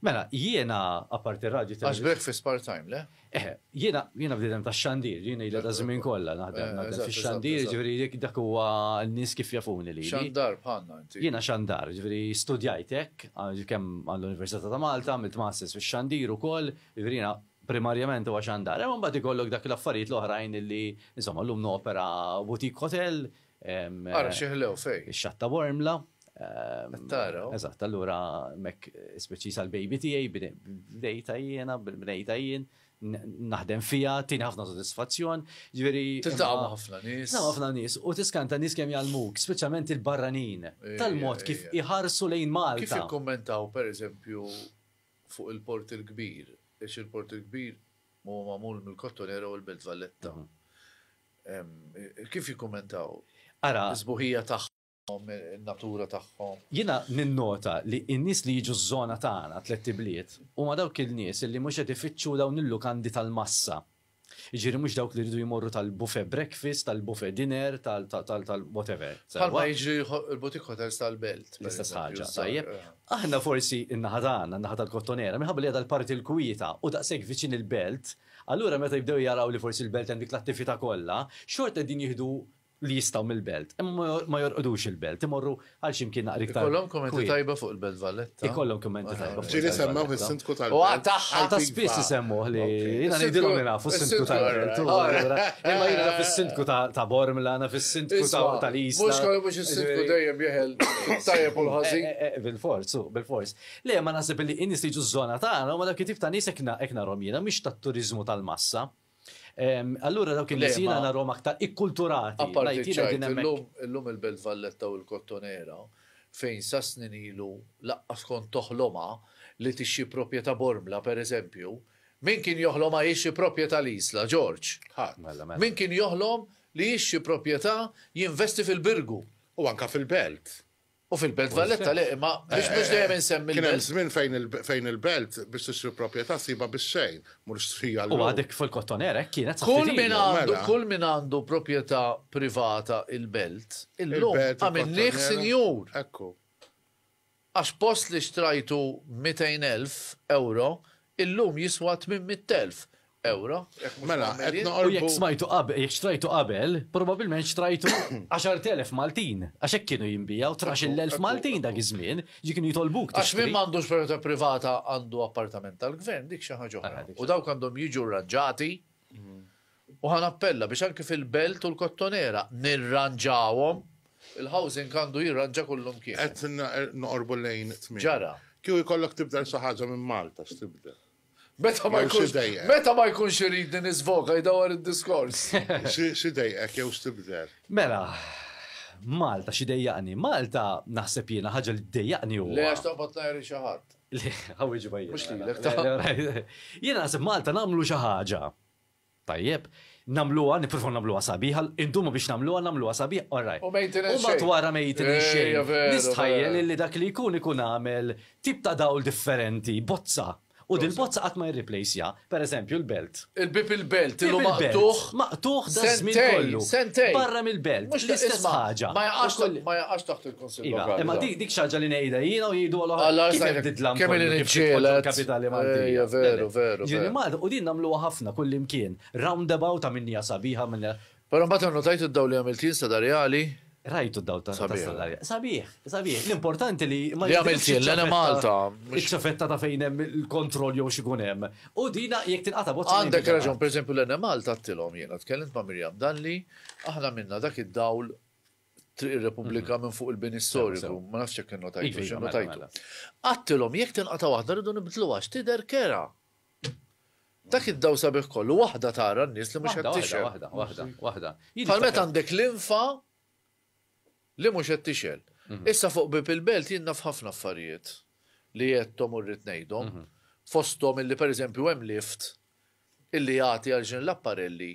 Mela, jiena apparti r-radju Għax breakfast part-time, le? Eħe, jiena jiena bniedem tax-xandir, jiena ilha ta' żmien kollha naħdem naħdem fix-xandir, jiġifieri jekk dak huwa n-nies kif jafuni lili. Xandar bħalna inti. Jiena xandar, jiġifieri studjajt hekk, kemm għall-Università ta' Malta, għamilt masters fix-xandir ukoll, jiġifieri jiena primarjament huwa xandar, imma mbagħad ikollok dak l-affarijiet l-oħrajn li, insomma, llum nopera boutique hotel. Ara xi ħlew fejn. Ix-xatt ta' Bormla. Qed tara. Eżatt, allura hemmhekk speċi sal-baby tiegħi bdejtha jiena, bnejtha jien, naħdem fiha, tieni ħafna sodisfazzjon. Ġifieri. Tiltaqa' ma' ħafna nies. Tiltaqa' ħafna nies u tiskanta nies kemm jgħallmuk, speċjalment il-barranin, tal-mod kif iħarsu lejn Malta. Kif ikkummentaw pereżempju fuq il-Port il-Kbir, għax il-Port il-Kbir huwa magħmul mill-Kottonera u l-Belt Valletta. Kif jikkummentaw? Ara. Is-sbuħija tagħhom, in-natura tagħhom. Jiena ninnota li n-nies li jiġu ż-żona tagħna, Tlett Ibliet, huma dawk il-nies li mhux qed ifittxu dawn il-lukandi tal-massa, Jiġifieri mhux dawk li jridu jmorru tal-buffet breakfast, tal-buffet dinner, tal-whatever. Bħalma jiġri l-boutique hotels tal-belt. L-istess ħaġa, tajjeb. Aħna forsi in-naħa tagħna, in-naħa tal-Kottonera, minħabba li hija dal-parti l-kwieta u daqshekk viċin il-belt, allura meta jibdew jaraw li forsi l-belt hemm dik l-attività kollha, xorta qegħdin jieħdu li jistgħu mill-belt, imma ma jorqodux il-belt, imorru għal ximkien naqra iktar. Ikollhom kumenti tajba fuq il-Belt Valletta. Ikollhom kumenti tajba. Ġieli semmew is-sindku tal-belt. Ħata spiss isemmuh li jiena ngħidilhom li nafu s-sindku tal-belt. Imma jiena naf is-sindku ta' Bormla, naf is-sindku tal-Isla. Mhux kollu mhux is-sindku dejjem jeħel tajjeb u l-ħażin. Bil-fors, bil-fors. Le, ma naħseb li n-nies li ġu żona tagħna u ma dak it-tip ta' nies hekk narhom jiena mhix tat-turiżmu tal-massa. Allura dawk il-nies jiena narhom aktar ikkulturati. Apparti l-lum il-Belt Valletta u l-Kottonera fejn sa snin ilu laqqas kont toħlomha li tixxi proprjetà Bormla pereżempju, min kien joħlomha jixxi proprjetà l-Isla, Ġorġ? Ħadd. Min kien joħlom li jixxi proprjetà jinvesti fil-Birgu? U anke fil-Belt. U fil-Belt Valletta le, imma biex eh, biex dejjem insemmi. Kien hemm żmien fejn il-Belt biex tixtri proprjetà siba bix-xejn, mhux strija l U għadek fil-kottoner hekk kienet Kull min għandu mela. kull min għandu proprjetà privata il-Belt, illum għamilnih sinjur. Ekku. Għax post li xtrajtu 200,000 euro, Illum jiswa tmien mitt elf ewro. Mela, qed noqorbu. U jekk smajtu qabel, jekk xtrajtu qabel, probabbilment xtrajtu għaxart elef Maltin, għax hekk kienu jinbiegħu, tnax-il elf Maltin dak iż-żmien, ġi kienu jitolbuk tixtri. Għax min m'għandux proprjetà privata għandu appartament tal-Gvern, dik xi ħaġa oħra. U dawk għandhom jiġu rranġati U ħa nappella biex anki fil-Belt u l-Kottonera nirranġawhom, il-housing għandu jirranġa kullumkien. Qed noqorbu lejn it-tmiem. Ġara. Kieku jkollok tibdel xi ħaġa minn Malta, x'tibdel? Meta ma jkunx idejqek. Meta ma jkunx iridni niżvoga jdawwar id-diskors. X'idejqek jew x'tibdel? Mela, Malta x'idejjaqni? Malta naħseb jiena ħaġa li ddejjaqni huwa. Le għax toqgħod tgħajr xi ħadd. Le, ħa wieġibha jien. Mhux lilek. Jiena naħseb Malta nagħmlu xi ħaġa. Tajjeb, nagħmluha, nippruvaw nagħmluha sabiħa, indumu biex nagħmluha, nagħmluha sabiħa, all right. U maintenance xejn. U mbagħad wara maintenance xejn. Ejja, veru. Nistħajjel illi dak li jkun ikun għamel tip ta' dawl differenti, bozza. U dil-bozza qatt ma jirriplejsja, per eżempju, l-belt. Il-bieb il-belt, illu maqtugħ. Maqtugħ daż-żmien kollu. Sentejn, sentejn. Barra mill-belt, l-istess ħaġa. Ma jaqax taħt il-. Iva, imma dik dik xaġa li ngħidha jiena u jgħidu għal Alla kif sajtek, titlam kemm kollu li kif titpoġġu nġielet. l-kapitali Eh, Maltija. ja, veru, veru, Ġieli veru. Malta, u din nagħmluha ħafna kull imkien. Roundabout ta' minnija sabiħa minn Però mbagħad annotajt id-dawl li għamilt jien sada reali. rajtu d-dawl ta' ta' Sabiħ. Sadarja. Sabiħ, sabiħ. L-importanti li ma Li għamilt jidhirx jien, l-għana iċ-ċavetta- Malta, mhux- Iċ-ċavetta ta' fejn hemm il-kontroll jew xikun hemm. U dina jekk tinqata' bozza. ma Għandek jinbidel raġun, qatt. per eżempju, l-enem Malta għattilom jiena, tkellimt ma' Mirjam Dalli, aħna minna dak id-dawl Triq ir-Repubblika minn fuq il-bini storiku, ma nafx jekk innotajtu, iva, x'innotajtu. Iva, mela, mela. Għattilhom jekk tinqata' waħda rridu nibdluha għax tidher kera. Dak id-daw sabiħ kollu waħda tara n-nies li mhux qed tixgħel. Waħda, waħda, waħda. Bħal meta għandek linfa li mhux qed tixgħel. Mhm. Issa fuq bib il-belt jien naf ħafna affarijiet li jettom u rrid ngħidhom. Mhm. Fosthom illi pereżempju hemm lift illi jagħti għal ġin l-apparelli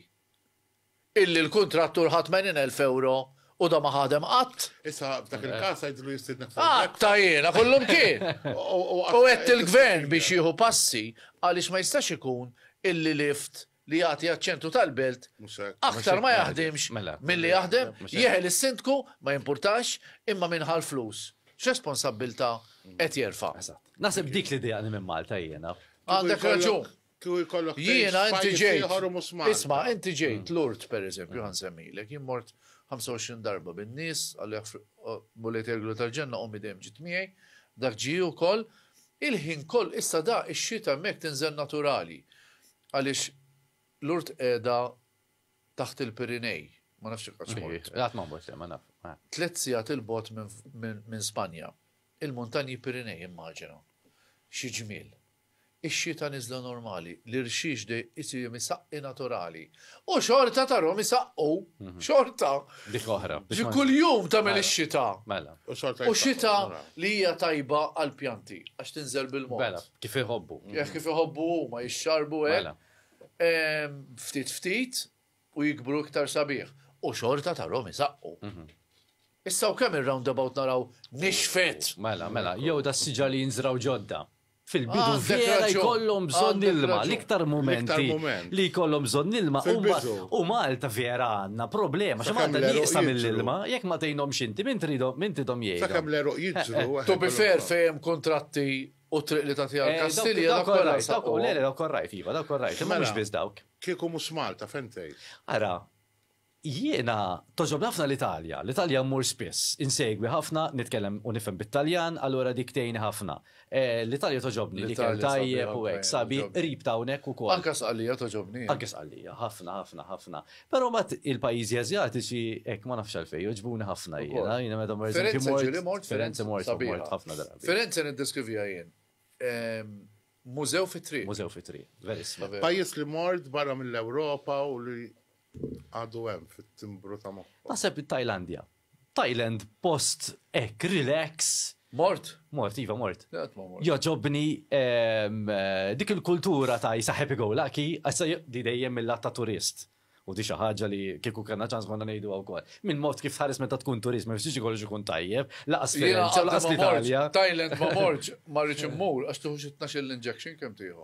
Illi l-kuntrattur ħa 80 elf ewro u da ma ħadem qatt. Issa f'dak il-każ għidlu jistiednek fuq. Qatta' jiena kollu mkien! U għedt il-Gvern biex jieħu passi għaliex ma jistax ikun illi lift li jagħti għaċ-ċentru tal-Belt aktar ma jaħdimx milli jaħdem, jeħel is-Sindku ma jimpurtax imma min ħa l-flus x'responsabbiltà qed jerfa'. Naħseb dik l-idea li minn Malta jiena. Għandek raġun. Kieku jkollok tgħix f'pajjiż ieħor u mhux Malta. Isma', inti ġejt Lourdes pereżempju, ħa nsemmilek, jien mort 25 darba bin-nies, għalih Mulej tgħidlu tal-ġenna ommi dejjem ġiet miegħi, dak ġie wkoll. Il-ħin kollu, issa da ix-xita hemmhekk tinżel naturali għaliex Lourdes qiegħda taħt il-Pirinej, ma nafx jekk qatt mort. Qatt ma mort, ma naf. Tliet sigħat il-bot minn Spanja. Il-muntanji Pirinej immaġina. Xi ġmiel. Ix-xita niżla normali, l-irxix de isir imisaqqi naturali. U xorta tarhom isaqqu. Xorta. Dik oħra. Ġi kuljum tagħmel ix-xita. Mela. U xorta. U xita li hija tajba għall-pjanti għax tinżel bil-mod. Mela, kif iħobbu. Kif iħobbu huma jixxarbu hekk. Mela. Ftit ftit, u jikbru iktar sabiħ u xorta tarhom isaqqu. Issa u kemm ir-roundabout naraw nixfet! Mela, mela, jew da s-siġar li jinżraw ġodda. Fil-bidu vera jkollhom bżonn ilma, l-iktar mumenti li jkollhom bżonn ilma u Malta vera għandna problema, xi Malta nieqsa mill-ilma, jekk ma tgħinhomx inti, min tridhom, min tridhom jgħinhom. Sakemm l-għeruq jiġru. To be fair fejn hemm kuntratti U t-triq li tagħtiha eh, l-Kastilja dak kollha nsab. Le, le, dak korrajt, iva, dak korrajt, imma mhux mela, biss dawk. Kieku mhux Malta fejn tgħid? Ara, jiena toġob ħafna l-Italja, l-Italja mmur spiss, insegwi ħafna, nitkellem u nifhem bit-Taljan, allura dik tgħini ħafna. Eh, L-Italja toġobni li kell tajjeb u hekk sabi qrib ta' hawnhekk ukoll. Anke sqallija toġobni. Anke sqallija, ħafna, ħafna, ħafna. Pero mat il-pajizi azjatiċi, ek ma nafx għalfej, joġbuni ħafna jena, jena meta mort. Firenze ġiri mort, Firenze mort, mort ħafna drabi. Firenze niddeskrivija jen. Ehm, mużew fitri. Mużew fitri, verissima. Pajis li mort barra mill-Europa u li għadu hemm fit-timbru ta' moħħ. Naħseb it-Tajlandja. Thailand post hekk relax. Mort? Mort, iva mort. Joġobni ehm, dik il-kultura ta' jisa happy go lucky, għassa di dejjem mill ta' turist. U di xi ħaġa li kieku kellna ċans konna ngħidu wkoll. Min mod kif tħares meta tkun turist, ma fiex kollox ikun tajjeb, laqas Firenze, laqas l-Italja. Thailand ma morġ, ma rridx immur għax tuħux 12 l-injection kemm tieħu.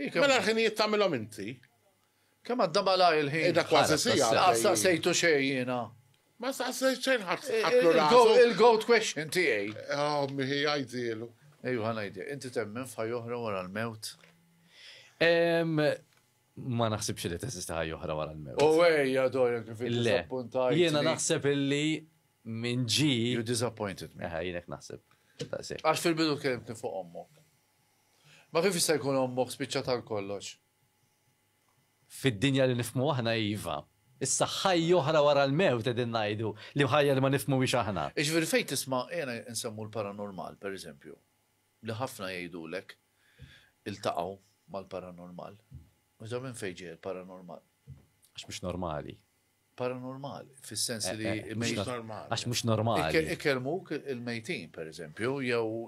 Mela l-ħinijiet tagħmilhom inti? Kemm għadda malajr il-ħin. Qiegħda kważi siegħa. Laqas staqsejtu xejn jiena. Ma staqsejt xejn ħadd ħaddlu rasu. Il-goat question tiegħi. Oh, miħi għajdielu. Ejju ħanajdi, inti temmen f'ħaj oħra wara l-mewt? ma naħsibx li teżista ħajja oħra wara l-mewt. U ejja dojja kif disappuntajt. Jiena naħseb illi minn ġi. You disappointed me. Eħe, jienek naħseb. Għax fil-bidu kellimtni fuq ommok. Ma kif jista' jkun ommok spiċċat għal kollox? Fid-dinja li nifhmu aħna iva. Issa ħajja oħra wara l-mewt qegħdin ngħidu, li ħajja li ma nifhmuhiex aħna. Jiġifieri fejn tisma' ejja nsemmu l-paranormal pereżempju, li ħafna jgħidulek iltaqgħu mal-paranormal. Minn fejn ġej il-paranormal? Għax mhux normali. Paranormali, fis-sens li. Mhux normali. Għax mhux normali. Ikelmuk il-mejtin, per eżempju,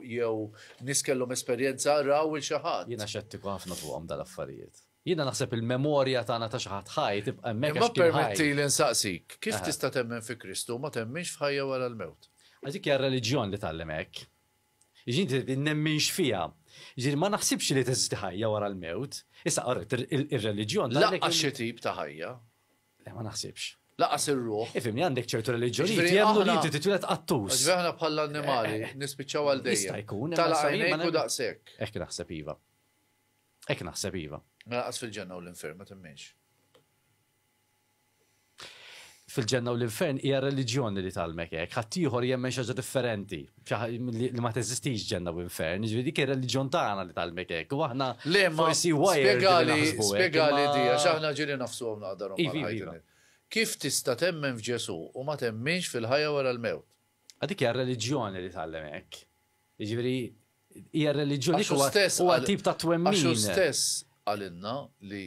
jew nis kellhom esperjenza raw il xi ħadd. Jiena xettiku ħafna fuqhom dal-affarijiet. Jiena naħseb il-memorja tagħna ta' xi ħadd ħaj tibqa' hemmhekk. Ma permetti li nsaqsik, kif tista' temmen fi Kristu ma temminx f'ħajja wara l-mewt? Għax dik hija r-reliġjon li tgħallem hekk. Jiġifieri nemminx fiha. Jiġifieri ma naħsibx li teżisti ħajja wara l-mewt. Issa, orrejt, ir-reliġjon. Lanqas xi tip ta' ħajja. Le, ma naħsibx. Lanqas ir-ruħ. Ifhimni, għandek ċertu reliġjonijiet li jemmnu li inti titwieled qattus. Jiġifieri aħna bħall-annimali eh, eh, nispiċċaw għal dejjem. Jista' jkun. Tala' għajnejk u daqshekk. Hekk naħseb iva. Hekk naħseb iva. Mela qas fil-ġenna u l-infern ma temminx. fil-ġenna u l-infern hija reliġjoni li tgħallmek hekk. Ħaddieħor jemmen xi ħaġa differenti li ma teżistix ġenna u infern, jiġifieri dik ir-reliġjon tagħna li tgħallmek hekk. U aħna forsi spjegali spjegali di għax aħna ġieli nafsu hawn naqdarhom iva, iva, iva. Kif tista' temmen f'Ġesù u ma temminx fil-ħajja wara l-mewt? Dik hija reliġjoni li tgħallem hekk. Jiġifieri hija reliġjoni huwa tip ta' twemmin. Għax stess għalinna li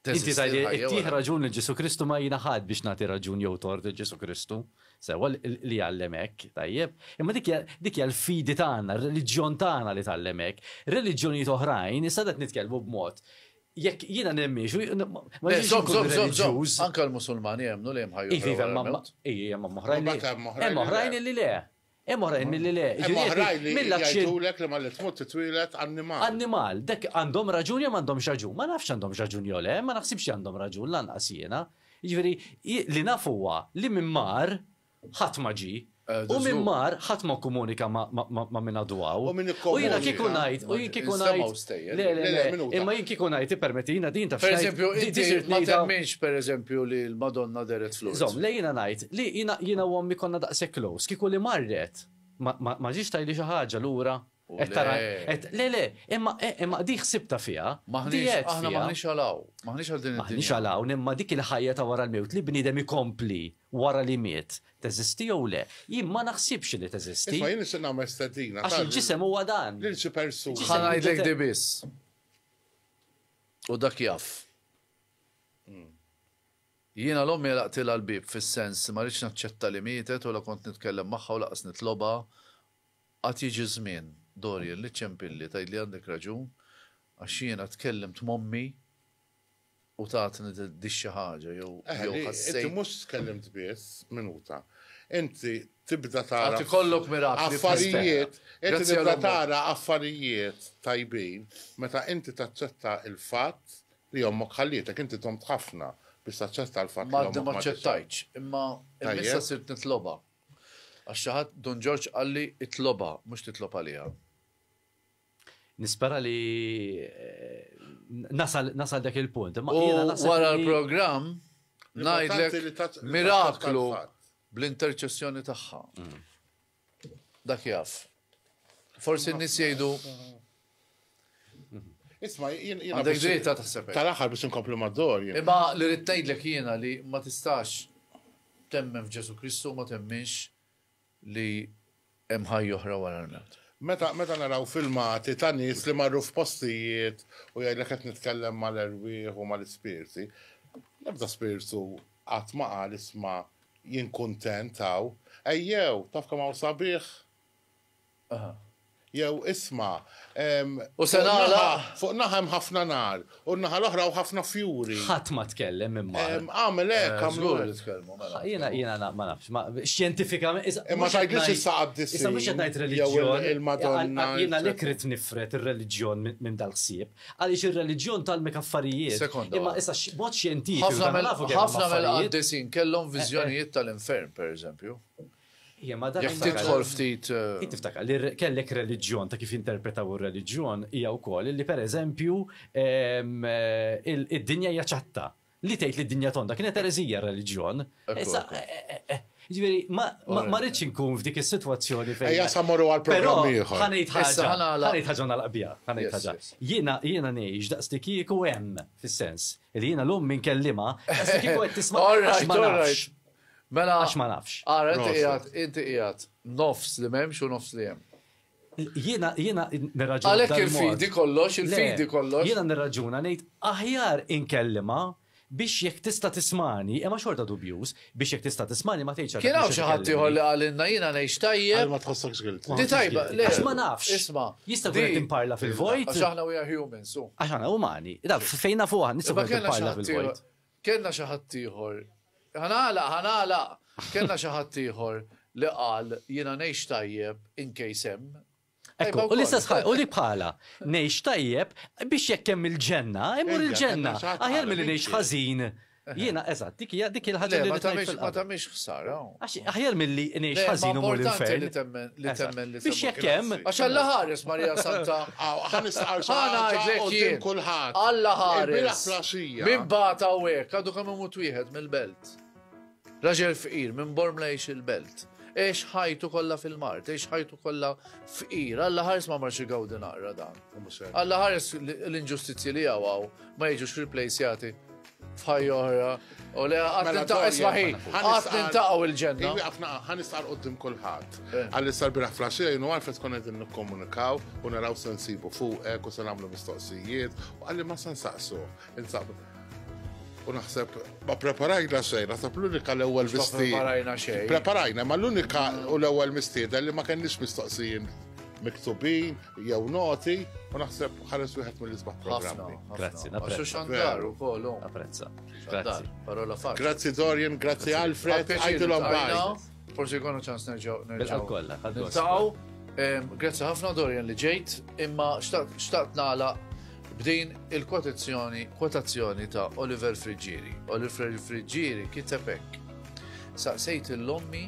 Inti tgħid li ttih raġun lil Ġesù Kristu ma jiena ħadd biex nagħti raġun jew tort lil Ġesù Kristu. Sewwa li jgħallem hekk, tajjeb. Imma dik hija l-fidi tagħna, r-reliġjon tagħna li tgħallem hekk. Reliġjonijiet oħrajn, issa qed nitkellmu b'mod jekk jiena nemminx, ma jiġix ikun reliġjuż. Anke l-Musulmani jemmnu li hemm ħajja. Iva, hemm oħrajn li le. Hemm oħrajn milli le. Hemm oħrajn li jgħidulek li malli tmut titwieled annimal. Annimal. Dak għandhom raġun jew m'għandhomx raġun. Ma nafx għandhomx raġun jew le, ma naħsibx li għandhom raġun lanqas jiena. Jiġifieri li naf huwa li min mar ħadd ma ġie. U min mar ħadd ma kkomunika ma' min għadu hawn. U min ikkomunika. U jiena kieku ngħid, u jien kieku ngħid. Le, le, le, minuta. Imma jien kieku ngħid ippermetti jiena din taf. Pereżempju, inti ma temminx pereżempju li l-Madonna deret fl-art. Żomm, le jiena ngħid, Li jiena u ommi konna daqshekk close, kieku li marret, ma ġietx tgħidli xi ħaġa lura? Qed tara, qed, le, le, imma, imma di ħsibtha fiha, di għedt fiha. Aħna m'aħniex għal hawn, m'aħniex għal din id-dinja. M'aħniex għal hawn, imma dik il-ħajja ta' wara l-mewt, li bniedem ikompli wara li miet, teżisti jew le? Jien ma naħsibx li teżisti. Isma' jien nixtieq nagħmel stedina. Għax il-ġisem huwa dan. Lil xi persuna. Ħa ngħidlek di biss. U dak jaf. Jiena l-ommi għalaqtilha l-bieb fis-sens li ma ridtx naċċetta li mietet u la kont nitkellem magħha u lanqas nitlobha. Għad jiġi ż-żmien, Dorian, li ċċempilli, tgħidli għandek raġun, għax jiena tkellimt m'ommi u tatni di xi ħaġa jew ħassejt. Eħe, li inti mhux tkellimt biss, minuta. Inti tibda tara. Għad ikollok mirakli f'ħajtek. Inti tibda tara affarijiet tajbin meta inti taċċetta l-fatt Li ommok ħallietek, inti domt ħafna biex taċċetta l-fatt li ommok ma. Mardi ma ċċettajtx, imma il-missa sirt nitlobha. Għax xi ħadd, Dun Ġorġ qalli itlobha, mhux titlob għaliha. Nispera li nasal dak il-punt. U wara l-programm ngħidlek miraklu bl-interċessjoni tagħha. Mm. Dak jaf. Forsi n-nies jgħidu. Isma' jien jien għandek dritt ta' taħseb. Tal-aħħar biex inkomplu mad-dor. Imma li rrid tgħidlek jiena li ma tistax temmen f'Ġesu Kristu ma temminx li hemm ħajja oħra wara l-mewt. Meta meta naraw filmati ta' nies li marru f'postijiet u jgħidlek qed nitkellem mal-erwieħ u mal-ispirti, l-ebda spirtu qatt ma qal isma' Jien kuntent hawn. Ejjew, taf kemm hawn sabiħ? Jew, isma', ehm, fuq naħa hemm ħafna nar, u n-naħa l-oħra hawn ħafna fjuri. Ħadd ma tkellem imma. Ehm, agħmel hekk, agħmlu hekk. Jiena, jiena ma nafx, ma, xjentifikament. Imma tgħidlix issa qaddis. Issa mhux qed ngħid reliġjon. Jew il-Madonna. Jiena li kritt nifred ir-reliġjon minn dal-ħsieb. Għaliex ir-reliġjon tgħallmek affarijiet. Sekonda waħda. Imma issa b'mod xjentifiku. Ħafna mill-affarijiet. Ħafna mill-qaddisin kellhom viżjonijiet tal-infern, pereżempju. Hija ma dak. Jekk tidħol ftit. Int tiftakar li kellek reliġjon ta' kif jinterpretaw ir-reliġjon hija wkoll li pereżempju id-dinja hija ċatta. Li tgħid li d-dinja tonda kienet ereżija r-reliġjon. Issa, ġifieri, ma rridx inkun f'dik is-sitwazzjoni fejn. Ejja sa morru għal programm ieħor. Ħa ngħid ħaġa, ħa ngħid ħaġa nagħlaq biha, ħa ngħid ħaġa. Jiena jiena ngħix daqs li kieku hemm, fis-sens li jiena lum min kellimha, daqs li kieku qed tisma' għax ma nafx. Mela għax ma nafx. Ara inti qiegħed, inti qiegħed nofs li m'hemmx u nofs li hemm. Jiena, jiena nirraġuna. Għalhekk il-fidi kollox, il-fidi kollox. Jiena nirraġuna ngħid aħjar inkellimha biex jekk tista' tismagħni, imma xorta dubjuż, biex jekk tista' tismagħni ma tgħidx għalhekk. Kien hawn xi ħadd ieħor li qalilna jiena ngħix tajjeb. Għal ma tħossokx guilty. Di tajba, le. Għax ma nafx. Isma'. Jista' wieħed imparla fil-vojt. Għax aħna we are humans, u. Għax aħna umani. Fejn nafu aħna nistgħu nagħmlu parla fil-vojt. Kellna xi ħaddieħor, ħa nagħlaq, ħa nagħlaq! Kellna xi ħaddieħor li qal jiena ngħix tajjeb in case hemm. Ekku, u l-istess ħaġa, u li bħalha, ngħix tajjeb biex jekk hemm il-ġenna, immur il-ġenna. Aħjar milli ngħix ħażin. Jiena, eżatt, dik hija dik il-ħaġa li ma tagħmilx ħsara. Għax aħjar mill-li nix ħazin u mur l-infern. Li temmen li Biex jekk hemm. Għax Alla ħares Marija Santa. Għan istaqar Għana għedlek kulħadd. Alla ħares. Min bata u hekk, għadu kemm imut wieħed mill-belt. Raġel fqir minn Bormla jiex il-belt. Ex ħajtu kollha fil-mart, ex ħajtu kollha fqir. Alla ħares ma marxi gawdi naqra dan. Alla ħares l-inġustizzji li għaw ma jiġux replacjati F'ħajja oħra. U le għad Mela, nintaqgħu Doria, ismaħi. ħana fuq. Għad nintaqgħu il-ġenna. Iwi għafna għan isqar qoddim kullħat. Eh. Għalli sar biraħ flasġija jenu għarfet kon għedin nikkomunikaw u naraw se nsibu fuqek u se namlu mistoqsijiet u għalli ma se nsaqsu. Insab. U naħseb, ma preparajna xejn, naħseb l-unika l-ewwel Ma mistied. preparajna xejn. Preparajna, ma l-unika u l-ewwel mistieda li ma kenniex mistoqsijin miktubin, jew noti, u naħseb ħares wieħed mill-isbaħ programmi. Grazzi, napprezza. Xandar u kollu. Napprezza. Grazzi. Parola fa. Grazzi Dorian, grazzi Alfred, għajdilhom baj. Forsi jkunu ċans nerġgħu nerġgħu. Kollha, Niltaqgħu. Grazzi ħafna Dorian li ġejt, imma xtaqt nagħlaq b'din il-kwotazzjoni kwotazzjoni ta' Oliver Friggieri. Oliver Friggieri kitebek. Saqsejt il-lommi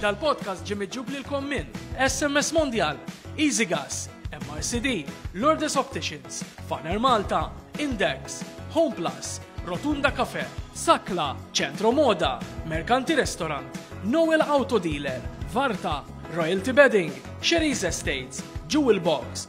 Dal-podcast ġie miġġub lilkom minn SMS Mondial, Easy Gas, MRCD, Lourdes Opticians, Faner Malta, Index, Home Plus, Rotunda Cafe, Sakla, Ċentro Moda, Merkanti Restaurant, Noel Auto Dealer, Varta, Royalty Bedding, Xeriz Estates, Jewel Box,